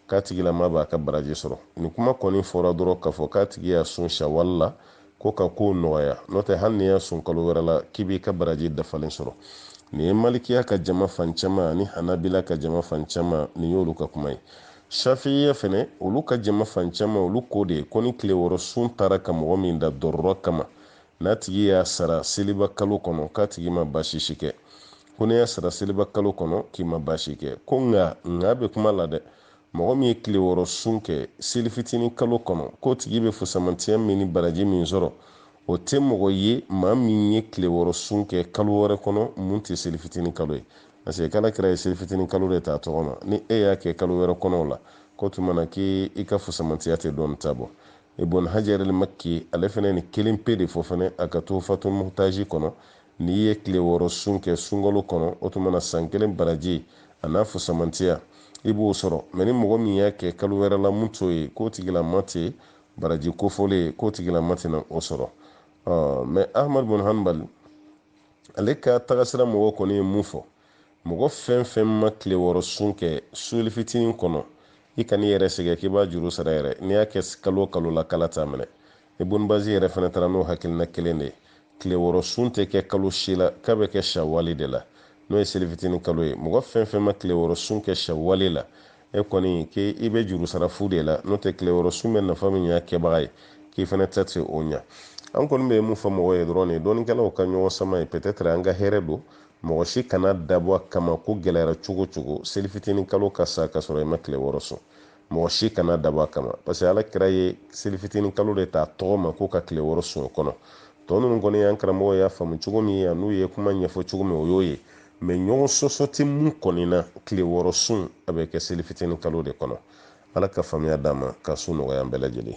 k'a tigilama b'a ka baraji sɔrɔ nin kuma kɔni fɔra dɔrɔn k'a fɔ k'a tigi y'a sun shawali la ko ka kow nɔgɔya n'o tɛ hali n'i y'a sun kalo wɛrɛ la k'i b'i ka baraji dafalen sɔrɔ nin ye malikiya ka jama fan caman ani hanabila ka jama fan caman nin y'olu ka kuma ye shafiya fɛnɛ olu ka jama fan caman olu ko de ye ko ni tile wɔɔrɔ sun taara ka mɔgɔ min dan darura kama n'a tigi y'a sara seliba kalo kɔnɔ k'a tigi ma baasi si kɛ ko n'i y'a sara seliba kalo kɔnɔ k'i ma baasi kɛ ko nka nka bɛ kuma la dɛ mɔgɔ min ye tile wɔɔrɔ sun kɛ seli fitinin kalo kɔnɔ k'o tigi bɛ fusamantiya min ni baraji min sɔrɔ o tɛ mɔgɔ ye maa min ye tile wɔɔrɔ sun kɛ kalo wɛrɛ kɔnɔ mun tɛ seli fitinin kalo ye parce que ala kira ye seli fitinin kalo de t'a tɔgɔ ma ni e y'a kɛ kalo wɛrɛ kɔnɔ o la k'o tuma na k'i i ka fusamantiya tɛ dɔ nin ta bɔ ibn hajar al makki ale fana nin kelen pe de fɔ fana a ka tuhfatul muhtaji kɔnɔ n'i ye tile wɔɔrɔ sun kɛ sunkalo kɔnɔ o tuma na san kelen baraji an'a fusamantiya i b'o sɔrɔ mɛ ni mɔgɔ min y'a kɛ kalo wɛrɛ la mun t'o ye k'o tigilama tɛ baraji kofɔlen ye k'o tigilama tɛna o sɔrɔ mɛ ahamadu bun hanbali ale ka tagasira mɔgɔ kɔni ye mun fɔ mɔgɔ fɛn fɛn ma tile wɔɔrɔ sun kɛ seli fitinin kɔnɔ i kan'i yɛrɛ sɛgɛn k'i b'a juru sara yɛrɛ n'i y'a kɛ kalo o kalo la k'ala t'a minɛ ibun bazi yɛrɛ fana taara n'o hakilina kelen de ye tile wɔɔrɔ sun tɛ kɛ kalo si la k'a bɛ kɛ shawali de la n'o ye selifitini kalo ye mɔgɔ fɛn fɛn ma tile wɔɔrɔ sun kɛ shawali la e kɔni k'i i bɛ juru sara fu de la n'o tɛ tile wɔɔrɔ sun bɛ nafa min ɲ'a kɛbaga ye k'i fana tɛ se o ɲa an kɔni bɛ mun fɔ mɔgɔ ye dɔrɔn nin dɔnnikɛlaw ka ɲɔgɔn sama ye peut-être an ka hɛrɛ don mɔgɔ si kan'a dabɔ a kama ko gɛlɛyara cogo o cogo selifitini kalo ka sa ka sɔrɔ i ma tile wɔɔrɔ sun mɔgɔ si kan'a dabɔ a kama parce que ala kira ye seli fitinin kalo de ta tɔgɔ ma ko ka tile wɔɔrɔ sun o kɔnɔ tɔ ninnu kɔni y'an karamɔgɔ y'a faamu cogo min ye an'u ye kuma ɲɛfɔ cogo min o y'o ye mɛ ɲɔgɔn sɔsɔ tɛ mun kɔni na tile wɔɔrɔ sun a bɛ kɛ seli fitinin kalo de kɔnɔ ala ka faamuya d'an ma ka sun nɔgɔya an bɛɛ lajɛlen